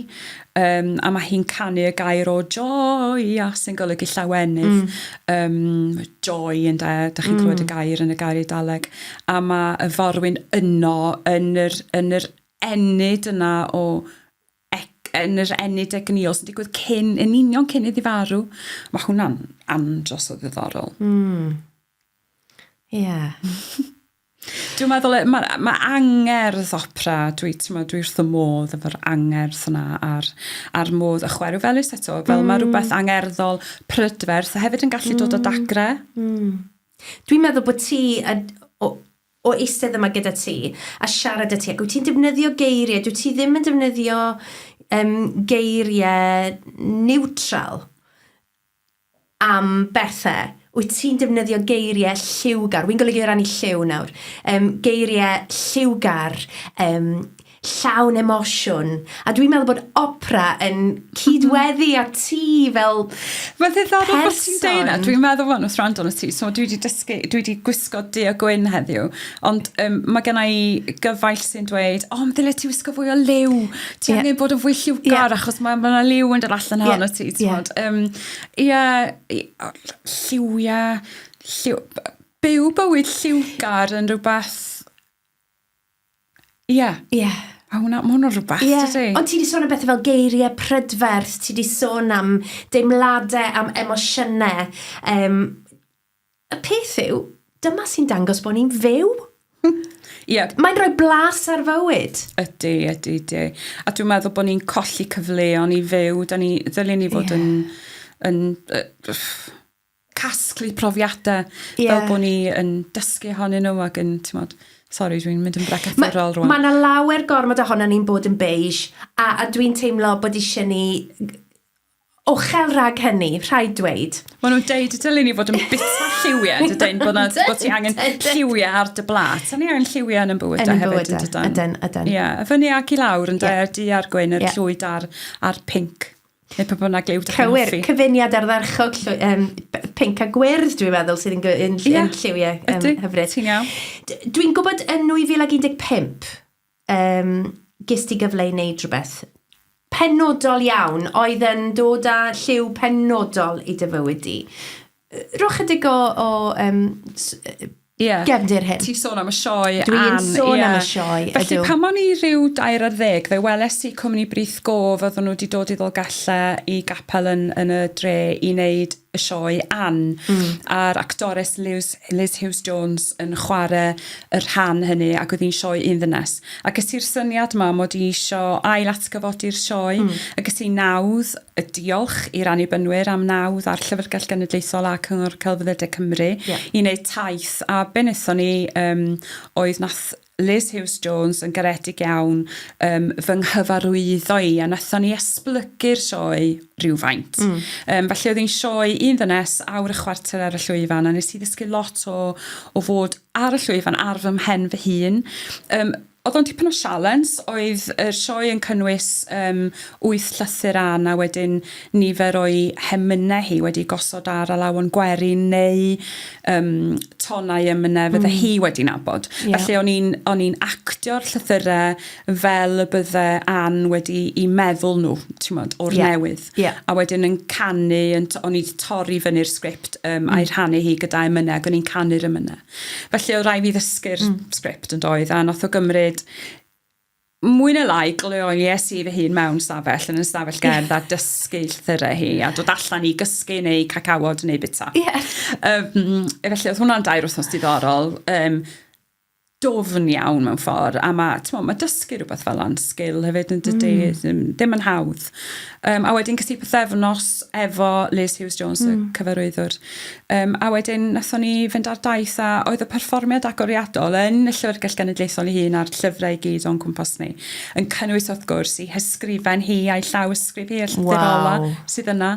[SPEAKER 2] um, a mae hi'n canu y gair o joy a sy'n golygu llawenydd mm. um, joy yn da, da chi'n mm. clywed y mm. gair yn y gair Eidaleg a mae y forwyn yno yn yr, yn yr ennyd yna o Ac yn yr ennyd egnïol sy'n digwydd cyn, yn union cyn iddi farw. Mae hwnna'n andros o ddiddorol. Mm. Ie. Yeah. Dwi'n meddwl, e, mae ma angerdd opera, dwi, mo, dwi wrth y modd efo'r angerdd yna a'r, ar modd y chwerw felus eto, fel mm. mae rhywbeth angerddol, prydferth, a hefyd yn gallu mm. dod o mm. dagre. Mm.
[SPEAKER 1] Dwi'n meddwl bod ti, a, o, o eistedd yma gyda ti a siarad â ti, ac wyt ti'n defnyddio geiriau, dwyt ti ddim yn defnyddio um, geiriau niwtral am bethau, wyt ti'n defnyddio geiriau lliwgar, wy'n golygu o ran i lliw nawr, um, geiriau lliwgar, um, llawn emosiwn. A dwi'n meddwl bod opera yn cydweddu a ti fel Mae'n ddiddorol
[SPEAKER 2] bod ti'n deud yna. Dwi'n meddwl fan wrth rand o'n ti. So dwi wedi dysgu, dwi wedi gwisgo du a gwyn heddiw. Ond um, mae gen i gyfaill sy'n dweud, o, oh, ddyle ti wisgo fwy o liw. Ti yeah. angen bod yn fwy lliwgar yeah. achos mae yna ma liw yn dod allan yeah. hon o ti. Ie, yeah. um, yeah, lliwiau, lliw, byw bywyd lliwgar yn rhywbeth Ie. Yeah. Ie. Yeah. A hwnna, mae hwnna'n rhywbeth, yeah. dydy? Ond ti wedi sôn am bethau fel
[SPEAKER 1] geiriau prydferth, ti wedi sôn am deimladau, am emosiynau. Um, y peth yw, dyma sy'n dangos bod ni'n fyw. yeah. Mae'n rhoi blas ar fywyd. Ydy, ydy, ydy.
[SPEAKER 2] A dwi'n meddwl bod ni'n colli cyfleon i fyw. Da ni, ddylen ni fod yeah. yn... yn uh, casglu profiadau yeah. fel bod ni yn dysgu honyn nhw ac yn, ti'n modd, sori, dwi'n mynd yn bregethurol rwan. Mae yna lawer
[SPEAKER 1] gormod ohono ni'n bod yn beige, a, a dwi'n teimlo bod eisiau ni ochel rhag hynny, rhaid dweud. Mae nhw'n deud y dylun
[SPEAKER 2] ni fod yn bita lliwiau, dydyn, bod, na, bod ti angen lliwiau ar dy blat. Sa'n ni angen lliwiau yn bywyd da hefyd, yn dydyn? Ydyn, ydyn. Ie, yeah, fyny ac i lawr, yn yeah. di ar gwyn, yr yeah. llwyd a'r, ar pink. Neu pa bynnag liw da chi'n hoffi. Cywir, cyfuniad
[SPEAKER 1] ardderchog llwy, um, pink a gwyrdd, dwi'n meddwl, sydd yn, yn, yn, yn lliwiau um, hyfryd. Ti'n iawn.
[SPEAKER 2] Dwi'n gwybod
[SPEAKER 1] yn 2015, um, gys ti gyfle i wneud rhywbeth penodol iawn oedd yn dod â lliw penodol i dy fywyd di. Rhoi chydig o, o um, yeah. gefndir hyn. Ti'n sôn am y sioe.
[SPEAKER 2] Dwi'n sôn yeah. am y
[SPEAKER 1] sioe, ydw. Felly pan o'n i
[SPEAKER 2] rhyw dair ar ddeg, fe weles i cwmni Brith Gof, oedden nhw wedi dod i ddolgella i gapel yn, yn y dre i wneud y sioe Ann mm. a'r actores Liz, Liz Hughes Jones yn chwarae y rhan hynny ac oedd hi'n sioe un ddynes ac ys i'r syniad ma mod i eisiau ail atgyfodi'r sioe mm. ac ys i nawdd a diolch i'r Annibynwyr am nawdd a'r Llyfrgell Genedlaethol a Cyngor Celfyddydau Cymru yeah. i wneud taith a be wnaethon ni um, oedd nath Liz Hughes Jones yn garedig iawn um, fy nghyfarwyddo i a nathon ni esblygu'r sioe rhywfaint. Mm. Um, felly oedd hi'n sioe un ddynes awr y chwarter ar y llwyfan a nes i ddysgu lot o, o fod ar y llwyfan ar fy mhen fy hun. Um, Oedd o'n dipyn o sialens, oedd yr sioe yn cynnwys yym wyth llythyr Ann a wedyn nifer o'i hemynau hi wedi gosod ar alawon gwerin neu yym tonau emynau fydde mm. hi wedi nabod. Yeah. Felly o'n i'n o'n i'n actio'r llythyrau fel y bydde Ann wedi i meddwl nhw, ti'n modd, o'r yeah. newydd. Yeah. A wedyn yn canu, yn o'n i wedi torri fyny'r sgript um, mm. a'i rhannu hi gyda emynau ac o'n i'n canu'r emynau. Felly oedd rhaid fi ddysgu'r mm. sgript yn doedd, a nath o gymryd mwy na lai gloies i fy hun mewn stafell yn y stafell gerdd a dysgu llythyrau hi a dod allan i gysgu neu cacawod neu bita. Yeah. Um, felly oedd hwnna'n dair wythnos diddorol. Um, dofn iawn mewn ffordd a mae ma dysgu rhywbeth fel yna'n sgil hefyd yn dydy mm. ddim, ddim yn hawdd. Um, a wedyn cysi pythefnos efo Liz Hughes Jones, mm. y hmm. cyfarwyddwr. Um, a wedyn nathon ni fynd ar daith a oedd y perfformiad agoriadol yn y Llyfrgell Genedlaethol ei hun a'r llyfrau i gyd o'n cwmpas ni. Yn cynnwys wrth gwrs i hysgrifen hi a'i llaw ysgrif hi, y llyfr wow. ola sydd yna.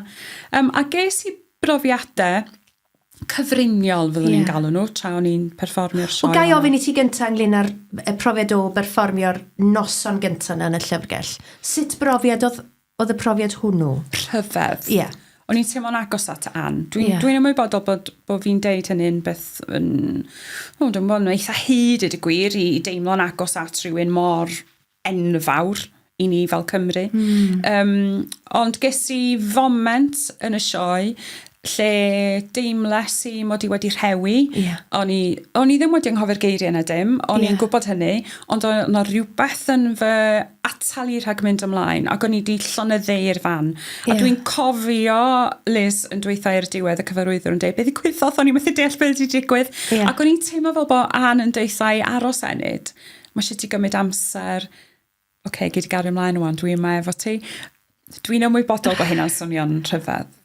[SPEAKER 2] Um, a ges i brofiadau cyfriniol fyddwn yeah. i'n galw nhw tra o'n i'n perfformio'r sioe. Wel, gai ofyn i ti gyntaf
[SPEAKER 1] ynglyn â'r profiad o berfformio'r noson gyntaf yna yn y llyfrgell. Sut brofiad oedd, oedd y profiad hwnnw? Rhyfedd. Ie. Yeah.
[SPEAKER 2] O'n i'n teimlo'n agos at Ann. Dwi'n yeah. dwi ymwybodol bod, bod fi'n deud hynny'n beth yn... O, dwi'n bod yn eitha hyd i dy gwir i deimlo'n agos at rhywun mor enfawr i ni fel Cymru. Mm. Um, ond ges i foment yn y sioe lle deimles i mod i wedi rhewi. Yeah. O'n i, o'n i ddim wedi anghofio'r geiriau na dim, o'n yeah. i'n gwybod hynny, ond o'n yna rhywbeth yn fy atal i rhag mynd ymlaen, ac o'n i wedi llonyddeu'r fan. Yeah. A dwi'n cofio Liz yn dweitha i'r diwedd y cyfarwyddwr yn dweud, beth i gwyddoth, o'n i methu deall beth wedi digwydd, yeah. ac o'n i'n teimlo fel bod Anne yn deitha i aros enid. ma' isio ti gymryd amser oce gei di gario mlaen ŵan dwi yma efo ti. Dwi'n ymwybodol bod hynna'n swnio'n rhyfedd.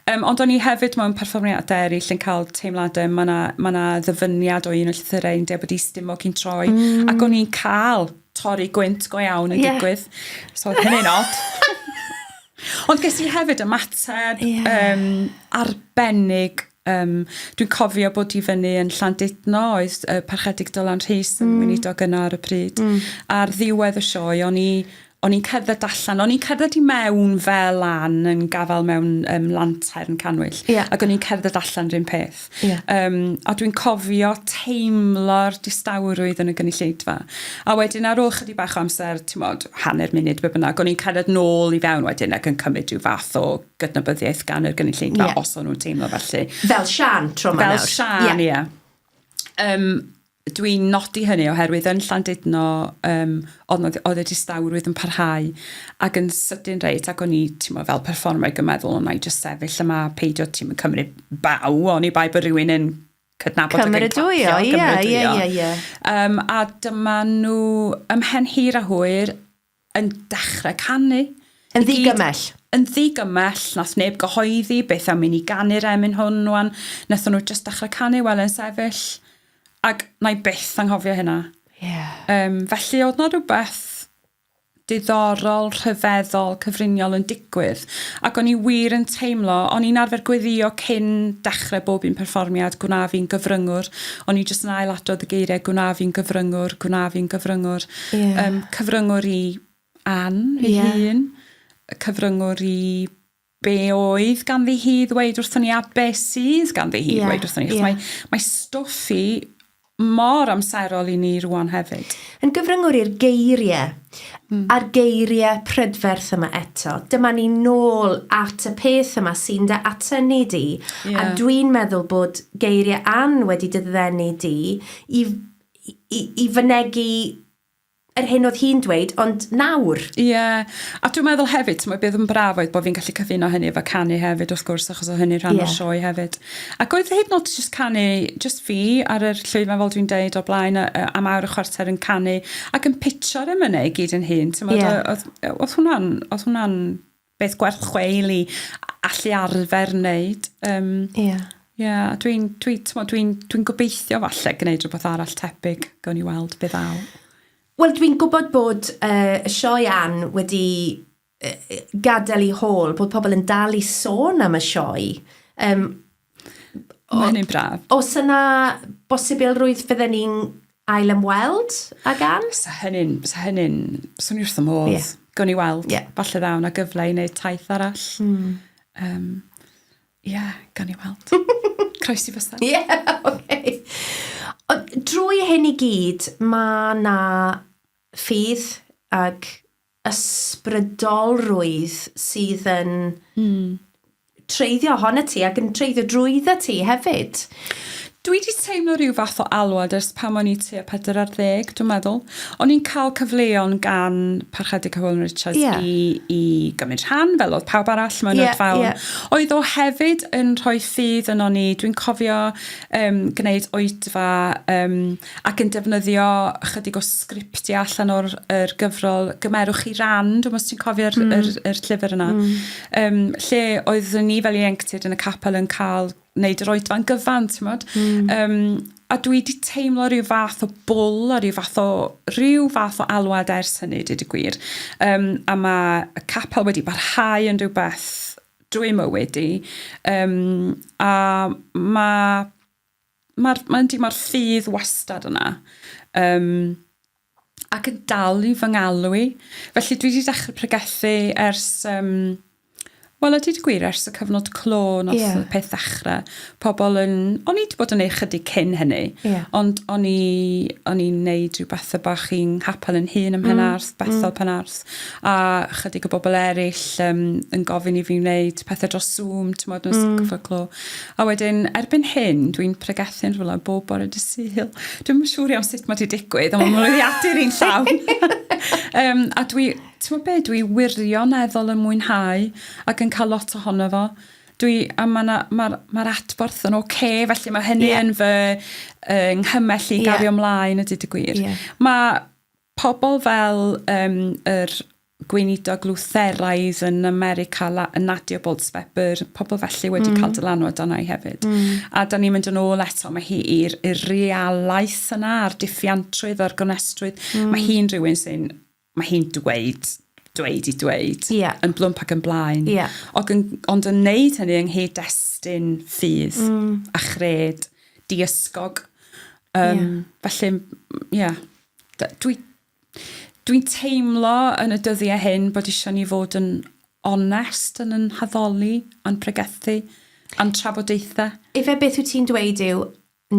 [SPEAKER 2] Um, ond o'n i hefyd mewn perfformiad eraill yn cael teimladau, mae yna ma na ddyfyniad o un o llythyrau yn dweud bod i stimo cyn troi, mm. ac o'n i'n cael torri gwynt go iawn yn yeah. digwydd. So, hynny'n od. Ond ges i hefyd ymateb yeah. um, arbennig Yym, dwi'n cofio bod i fyny yn Llandudno, oedd uh, Parchedig Dylan Rhys yn mm. weinidog yna ar y pryd. Mm. Ar ddiwedd y sioe, o'n i o'n i'n cerdded allan, o'n i'n cerdded i mewn fel lan yn gafael mewn um, lantair yn canwyll, yeah. ac o'n i'n cerdded allan rhywun peth. Yeah. Um, a dwi'n cofio teimlo'r distawrwydd yn y gynulleidfa. A wedyn ar ôl chydig bach o amser, ti'n modd, hanner munud be bynnag, o'n i'n cerdded nôl i fewn wedyn ac yn cymryd rhyw fath o gydnabyddiaeth gan yr gynulleidfa yeah. os o'n nhw'n teimlo felly. Fel Sian tro
[SPEAKER 1] ma Fel Sian, ie. Yeah. Yeah.
[SPEAKER 2] Um, Dwi'n nodi hynny oherwydd yn Llandudno um, oedd y distawrwydd yn parhau ac yn sydyn reit ac o'n i mo, fel performer yn meddwl o'n i just sefyll yma peidio ti'n cymryd baw o'n i bai bod rhywun yn cydnabod ac yn clapio. Ie, ie, ie.
[SPEAKER 1] A
[SPEAKER 2] dyma nhw ymhen hir a hwyr yn dechrau canu. Yn ddigymell.
[SPEAKER 1] Yn ddigymell,
[SPEAKER 2] nath neb gyhoeddi beth am i ni ganu'r emyn hwn wan, nathon nhw jyst dechrau canu wel yn sefyll, ac na i byth anghofio hynna. Yeah. Um, felly oedd na rhywbeth diddorol, rhyfeddol, cyfriniol yn digwydd. Ac o'n i wir yn teimlo, o'n i'n arfer gweddio cyn dechrau bob un perfformiad, gwna fi'n gyfryngwr. O'n i jyst yn ail adrodd y geiriau, gwna fi'n gyfryngwr, gwna fi'n gyfryngwr. Ie. Yym cyfryngwr i Ann ei hun. Ie. Cyfryngwr i be oedd ganddi hi ddweud wrthon ni a be sydd ganddi hi ddweud wrthon ni. Ie. Mae, mae stwff i mor amserol i ni rwan hefyd. Yn gyfryngwr i'r
[SPEAKER 1] geiriau, mm. a'r geiriau prydferth yma eto. Dyma ni nôl at y peth yma sy'n dy atynnu di, yeah. a dwi'n meddwl bod geiriau an wedi dyddenu di i i, i fynegu yr hyn oedd hi'n dweud, ond nawr. Ie, yeah. a
[SPEAKER 2] dwi'n meddwl hefyd, ti'n beth yn braf oedd bod fi'n gallu cyfuno hynny efo canu hefyd, wrth gwrs, achos o hynny rhan yeah. o'r sioe hefyd. Ac oedd hyd nod just canu, just fi ar yr llwyfan fel dwi'n deud o blaen, am awr y chwarter yn canu, ac yn pitio'r emynau i gyd yn hun. Ti'n meddwl, yeah. oedd, oedd hwnna'n, oedd hwnna'n beth gwerth chweil i allu arfer wneud. Um, yeah. Yeah, dwi'n dwi, dwi, dwi, dwi gobeithio falle gwneud rhywbeth arall tebyg, gawn ni weld beth aw. Wel, dwi'n
[SPEAKER 1] gwybod bod uh, y sioe Ann wedi uh, gadael i hôl, bod pobl yn dal i sôn am y sioe. Um,
[SPEAKER 2] Mae hynny'n braf. Os yna
[SPEAKER 1] bosibilrwydd fydden ni'n ail ymweld ag Anne? Sa hynny'n, sa
[SPEAKER 2] hynny'n swn wrth y modd. Yeah. Gawn ni weld. Yeah. Falle ddaw na gyfle i wneud taith arall. Mm. Um, yeah, gawn ni weld. Croesi fysa. Ie,
[SPEAKER 1] yeah, okay. Ond drwy hyn i gyd, mae na ffydd ag ysbrydolrwydd sydd yn mm. treiddio ohona ti ac yn treiddio drwydda ti hefyd. Dwi wedi
[SPEAKER 2] teimlo rhyw fath o alwad ers pan o'n i tua pedwar ar ddeg, dwi'n meddwl. O'n i'n cael cyfleon gan Parchedig Hywel Richards yeah. i, i gymryd rhan, fel oedd pawb arall mewn yeah, fawn. Yeah. Oedd o hefyd yn rhoi ffydd yno ni. Dwi'n cofio um, gwneud oedfa um, ac yn defnyddio chydig o sgriptiau allan o'r er gyfrol Gymerwch chi ran, dwi'n os ti'n cofio'r mm. er, er llyfr yna, mm. um, lle oedd ni fel ieuenctid yn y capel yn cael wneud yr oedfa'n gyfan, ti'n modd? Mm. Um, a dwi wedi teimlo rhyw fath o bwl a rhyw fath o rhyw fath o alwad ers hynny, dyd y gwir. Um, a mae y capel wedi barhau yn rhywbeth drwy mywyd i. Um, a mae Mae'r, mae, yndi, mae'r ffydd wastad yna. Um, ac yn dal i fy ngalw i. Felly dwi wedi dechrau pregethu ers... Um, Wel, ydy wedi gwir, ers y cyfnod clo nath yeah. y peth ddechrau, pobl yn... O'n i wedi bod yn ei chydig cyn hynny, yeah. ond o'n i'n neud rhyw beth y bach i'n hapel yn hun ym Mhenarth, mm. Bethel mm. Penarth, a chydig o bobl eraill um, yn gofyn i fi wneud pethau dros Zoom, ti'n modd, yn ystod mm. cyfnod clo. A wedyn, erbyn hyn, dwi'n pregethu'n rhywle bob bore dy syl. Dwi'n yn siŵr iawn sut mae wedi digwydd, ond mae'n mwyddiadur i'n llawn. um, a dwi, ti'n gwybod beth, dwi wirioneddol yn mwynhau ac yn cael lot ohono fo dwi, a mae'r ma ma adborth yn oce, okay, felly mae hynny yeah. yn fy uh, nghymell i gario yeah. mlaen y dyd y gwir. Yeah. Mae Pobl fel um, yr gweinidog Lutheraidd yn America, Nadia Bolz-Weber, pobl felly wedi mm. cael dylanwad arna i hefyd. Mm. A da ni'n mynd yn ôl eto, mae hi i'r realaeth yna, a'r diffiantrwydd, a'r gonestrwydd. Mm. Mae hi'n rhywun sy'n, mae hi'n dweud dweud i dweud, yeah. yn blwmp ac yn
[SPEAKER 1] blaen.
[SPEAKER 2] Yeah. Ond, yn,
[SPEAKER 1] ond yn
[SPEAKER 2] neud hynny yng nghyd destun ffydd mm. a chred, diysgog. Um, yeah. Felly, ie. Yeah. dwi dwi'n teimlo yn y dyddiau hyn bod eisiau ni fod yn onest yn yn haddoli, a'n pregethu, a'n trafodaethau. Ife beth wyt ti'n
[SPEAKER 1] dweud yw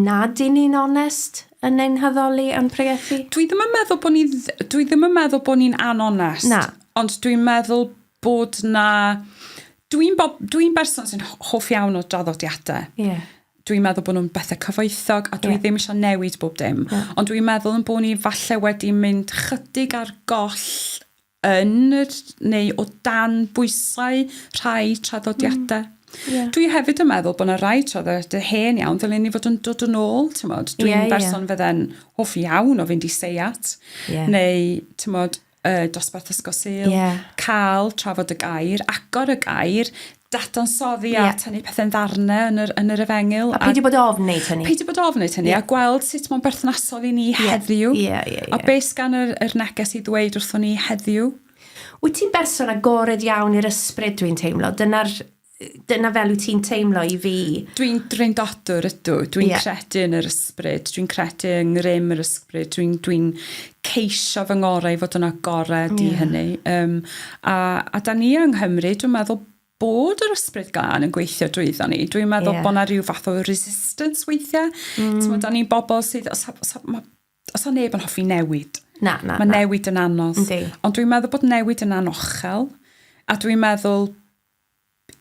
[SPEAKER 1] nad i ni'n onest yn ein haddoli a'n pregethu? Dwi ddim yn meddwl bod ni
[SPEAKER 2] dwi ddim yn meddwl bod ni'n anonest. Na. Ond dwi'n
[SPEAKER 1] meddwl
[SPEAKER 2] bod na dwi'n dwi'n berson sy'n hoff iawn o draddodiadau. Ie. Yeah. dwi'n
[SPEAKER 1] meddwl bod nhw'n
[SPEAKER 2] bethau cyfoethog a dwi yeah. ddim eisiau newid bob dim. Yeah. Ond dwi'n meddwl yn bod ni falle wedi mynd chydig ar goll yn yr, neu o dan bwysau rhai traddodiadau. Mm. Yeah. Dwi hefyd yn meddwl bod yna rai traddodiadau hen iawn, ddylen ni fod yn dod yn ôl, ti'n modd. Dwi'n yeah, berson yeah. fydde'n hoff iawn o fynd i seiat, yeah. neu, ti'n modd, y dosbarth ysgol Sul, yeah. cael trafod y gair, agor y gair, dadansoddi yeah. a tynnu pethau'n ddarnau yn yr, yn yr efengyl. A peidio bod ofn
[SPEAKER 1] wneud hynny. Peidio bod ofn wneud hynny, yeah. a
[SPEAKER 2] gweld sut mae'n berthnasol i ni yeah. heddiw. Yeah, yeah, yeah. A beth gan yr, yr neges i ddweud wrthon ni heddiw. Wyt ti'n
[SPEAKER 1] berson agored iawn i'r ysbryd dwi'n teimlo? Dyna'r dyna fel wyt ti'n teimlo i fi. Dwi'n drindadwr
[SPEAKER 2] ydw, dwi'n yeah. credu yn yr ysbryd, dwi'n credu yng ngrym yr ysbryd, dwi'n dwi ceisio fy ngorau i fod yn agored yeah. i hynny. Um, a, a da ni yng Nghymru, dwi'n meddwl bod yr ysbryd glân yn gweithio drwyddo ni. Dwi'n meddwl yeah. bod yna rhyw fath o resistance weithiau. Mm. Ti'n da ni'n bobl sydd, os, os, os, os o neb yn hoffi newid, na, na, mae na. newid yn anodd. Yndi. Ond dwi'n meddwl bod newid yn anochel, a dwi'n meddwl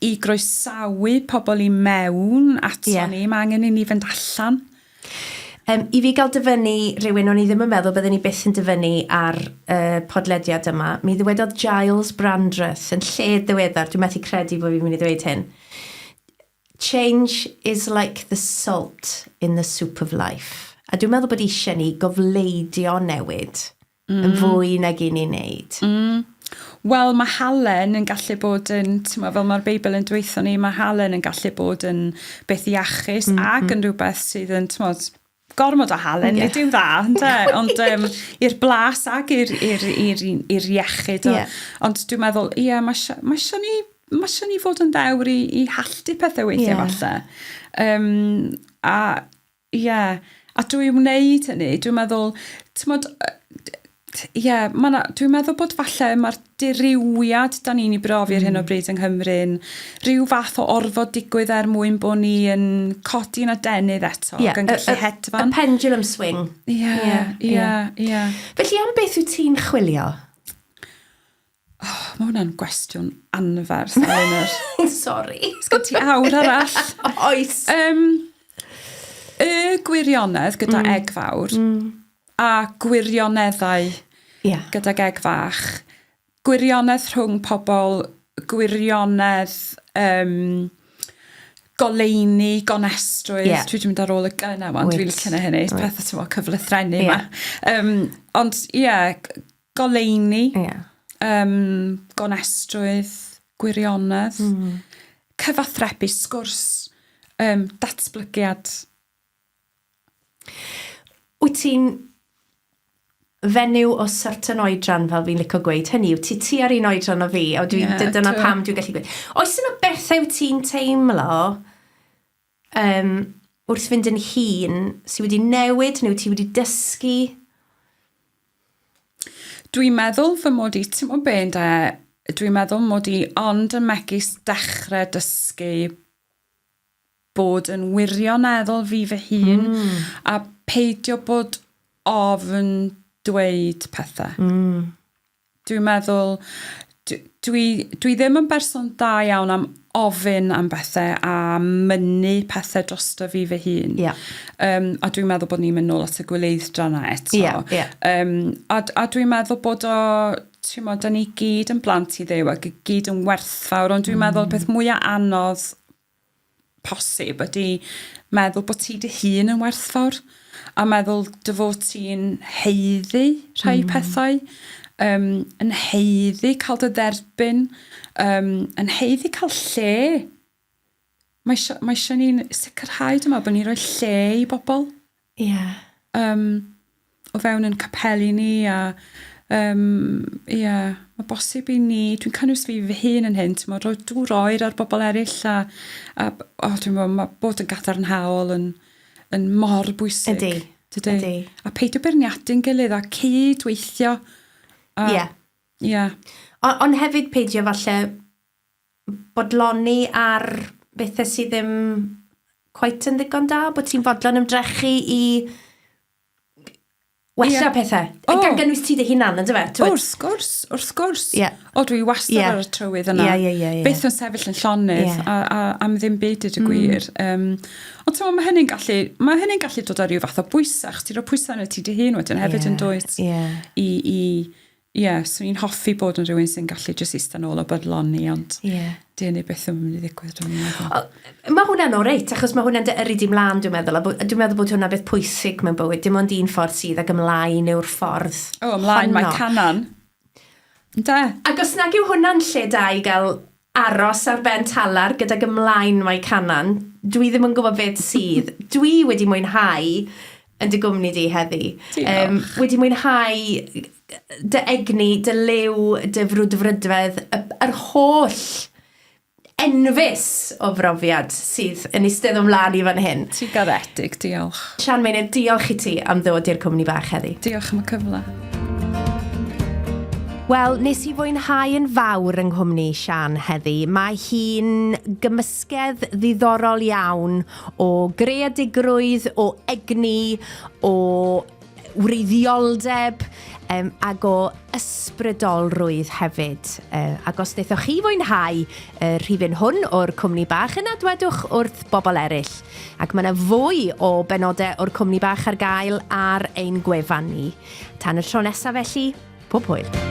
[SPEAKER 2] i groesawu pobl i mewn ato yeah. ni, mae angen i ni fynd allan. Um,
[SPEAKER 1] I fi gael dyfynnu rhywun, o'n i ddim yn meddwl byddwn ni byth yn dyfynnu ar uh, podlediad yma, mi ddywedodd Giles Brandreth yn lle ddiweddar, dwi'n methu credu bod fi'n mynd i ddweud hyn, change is like the salt in the soup of life. A dwi'n meddwl bod eisiau ni gofleidio newid. mm. yn fwy nag i ni'n neud. Mm. Wel,
[SPEAKER 2] mae halen yn gallu bod yn, ma, fel mae'r Beibl yn dweithio ni, mae halen yn gallu bod yn beth iachus mm, ac mm. yn rhywbeth sydd yn, ti'n modd, gormod o halen, yeah. nid yw'n dda, ynda? ond um, i'r blas ac i'r iechyd. O, yeah. Ond dwi'n meddwl, ie, yeah, mae eisiau ma ni mae eisiau ni fod yn ddewr i, i halltu pethau weithiau yeah. falle. Um, a Ie, a dwi wneud hynny, dwi'n meddwl, t'mod, ie, ma' 'na... Dwi'n meddwl bod falle mae'r dirywiad da ni'n ei brofi ar hyn o hmm. bryd yng Nghymru'n rhyw fath o orfod digwydd er mwyn bod ni yn codi'n adenydd eto yeah, ac yn gallu hedfan. Y pendulum
[SPEAKER 1] swing. Ie, ie, ie. Felly am beth wyt ti'n chwilio? Oh,
[SPEAKER 2] mae hwnna'n gwestiwn anferth, Eleanor. Sorry.
[SPEAKER 1] Sgyn ti awr
[SPEAKER 2] arall? Oes. Um,
[SPEAKER 1] y
[SPEAKER 2] gwirionedd gyda mm. eg fawr mm. a gwirioneddau yeah. gyda eg fach. Gwirionedd rhwng pobl, gwirionedd um, goleini, gonestrwydd. Yeah. Dwi wedi mynd ar ôl y gynna yma, dwi'n licio na hynny. Pethau ti'n fawr cyflythrennu yma. Yeah. Um, ond ie, yeah, Goleuni. Ia. Yym gonestrwydd, gwirionedd. Hmm. Cyfathrebu, sgwrs, yym datblygiad.
[SPEAKER 1] Wyt ti'n fenyw o certain oedran, fel fi'n licio gweud, hynny yw, ti tua'r un oedran o fi, a dwi, yeah, dyna pam dwi'n gallu gweud. Oes yna bethau wyt ti'n teimlo Yym, wrth fynd yn hŷn, ti wedi newid neu ti wedi dysgu?
[SPEAKER 2] Dwi'n meddwl fy mod i, ti'n mwyn be yn da, dwi'n meddwl mod i ond yn megis dechrau dysgu bod yn wirioneddol fi fy hun mm. a peidio bod ofn dweud pethau. Mm. Dwi'n meddwl d- dwi dwi ddim yn berson da iawn am ofyn am bethe a mynnu pethe drosto fi fy hun. Ie. Yym a dwi'n meddwl bod ni'n mynd nôl at y gwleiddra 'na eto. Ie ie. Yym a d- a dwi'n meddwl bod o t'mod 'dan ni gyd yn blant i Dduw ag y gyd yn werthfawr ond dwi'n meddwl peth mwya anodd posib ydi meddwl bod ti dy hun yn werthfawr a meddwl dy fod ti'n haeddu rhai hmm. pethau um, yn haeddu cael dy dderbyn um, yn haeddu cael lle mae eisiau, mae eisiau ni'n sicrhau dyma bod ni'n rhoi lle i bobl Ie. Yym, o fewn ein capeli ni a yym, ie, ma' bosib i ni, dwi'n cynnwys fi fy hun yn hyn, t'mod, rhoi dŵr oer ar bobl eryll a a b- o dwi'm yn gwbo ma' bod yn gadarnhaol yn yn mor bwysig. Ydi. Dydi? Ydi.
[SPEAKER 1] A peidio
[SPEAKER 2] beirniadu'n gilydd a cyd-weithio. A... Ie. Ie.
[SPEAKER 1] O- ond hefyd peidio falle bodloni ar bethau sydd ddim cweit yn ddigon da, bod ti'n fodlon ymdrechu i wella yeah. pethau. Oh. Gan gynnwys ti dy hunan, ynddo fe? O, wrth gwrs, wrth
[SPEAKER 2] gwrs. Yeah. O, dwi wastad yeah. ar y trywydd yna. Yeah, yeah, yeah, yeah. Beth yn sefyll yn llonydd yeah. a, a, am ddim byd i'r mm. gwir. Um, ond ti'n mae hynny'n gallu, mae hynny'n gallu dod ar ryw fath o bwysau, chos ti'n rhoi pwysau yn y ti dy hun wedyn hefyd yeah. yn dwyt yeah. i, i Ie, swn i'n hoffi bod yn rhywun sy'n gallu jyst eista nôl a bydloni, ond yeah. di hynny beth yn mynd i ddigwydd, dwi'n meddwl. Mae hwnna'n
[SPEAKER 1] oreit, achos mae hwnna'n dy yrru di mlaen, dwi'n meddwl. Dwi'n meddwl bod hwnna'n beth pwysig mewn bywyd. Dim ond un ffordd sydd ag ymlaen yw'r ffordd O, ymlaen mae
[SPEAKER 2] canan. Da.
[SPEAKER 1] Ac os nag yw hwnna'n lle da i gael Aros ar ben talar gydag ymlaen mae canan. Dwi ddim yn gwybod beth sydd. Dwi wedi mwynhau yn dy gwmni di heddi. Um, wedi mwynhau dy egni, dy liw, dy frwdfrydfedd, yr holl enfys o brofiad sydd yn eistedd o'n flaen i fan hyn. Ti garedig,
[SPEAKER 2] diolch. Sian Meinir, diolch
[SPEAKER 1] i ti am ddod i'r cwmni bach heddi. Diolch am y cyfle. Wel, nes i fwynhau yn fawr yng nghwmni Siân heddi. Mae hi'n gymysgedd ddiddorol iawn o greadigrwydd, o egni, o wreiddioldeb um, ac o ysbrydolrwydd hefyd. Uh, ac os wnaethoch chi fwynhau y uh, rhifyn hwn o'r cwmni bach, yna dwedwch wrth bobl eraill Ac mae 'na fwy o benodau o'r Cwmni Bach ar gael ar ein gwefan ni. Tan y tro nesaf felly, pob hwyl!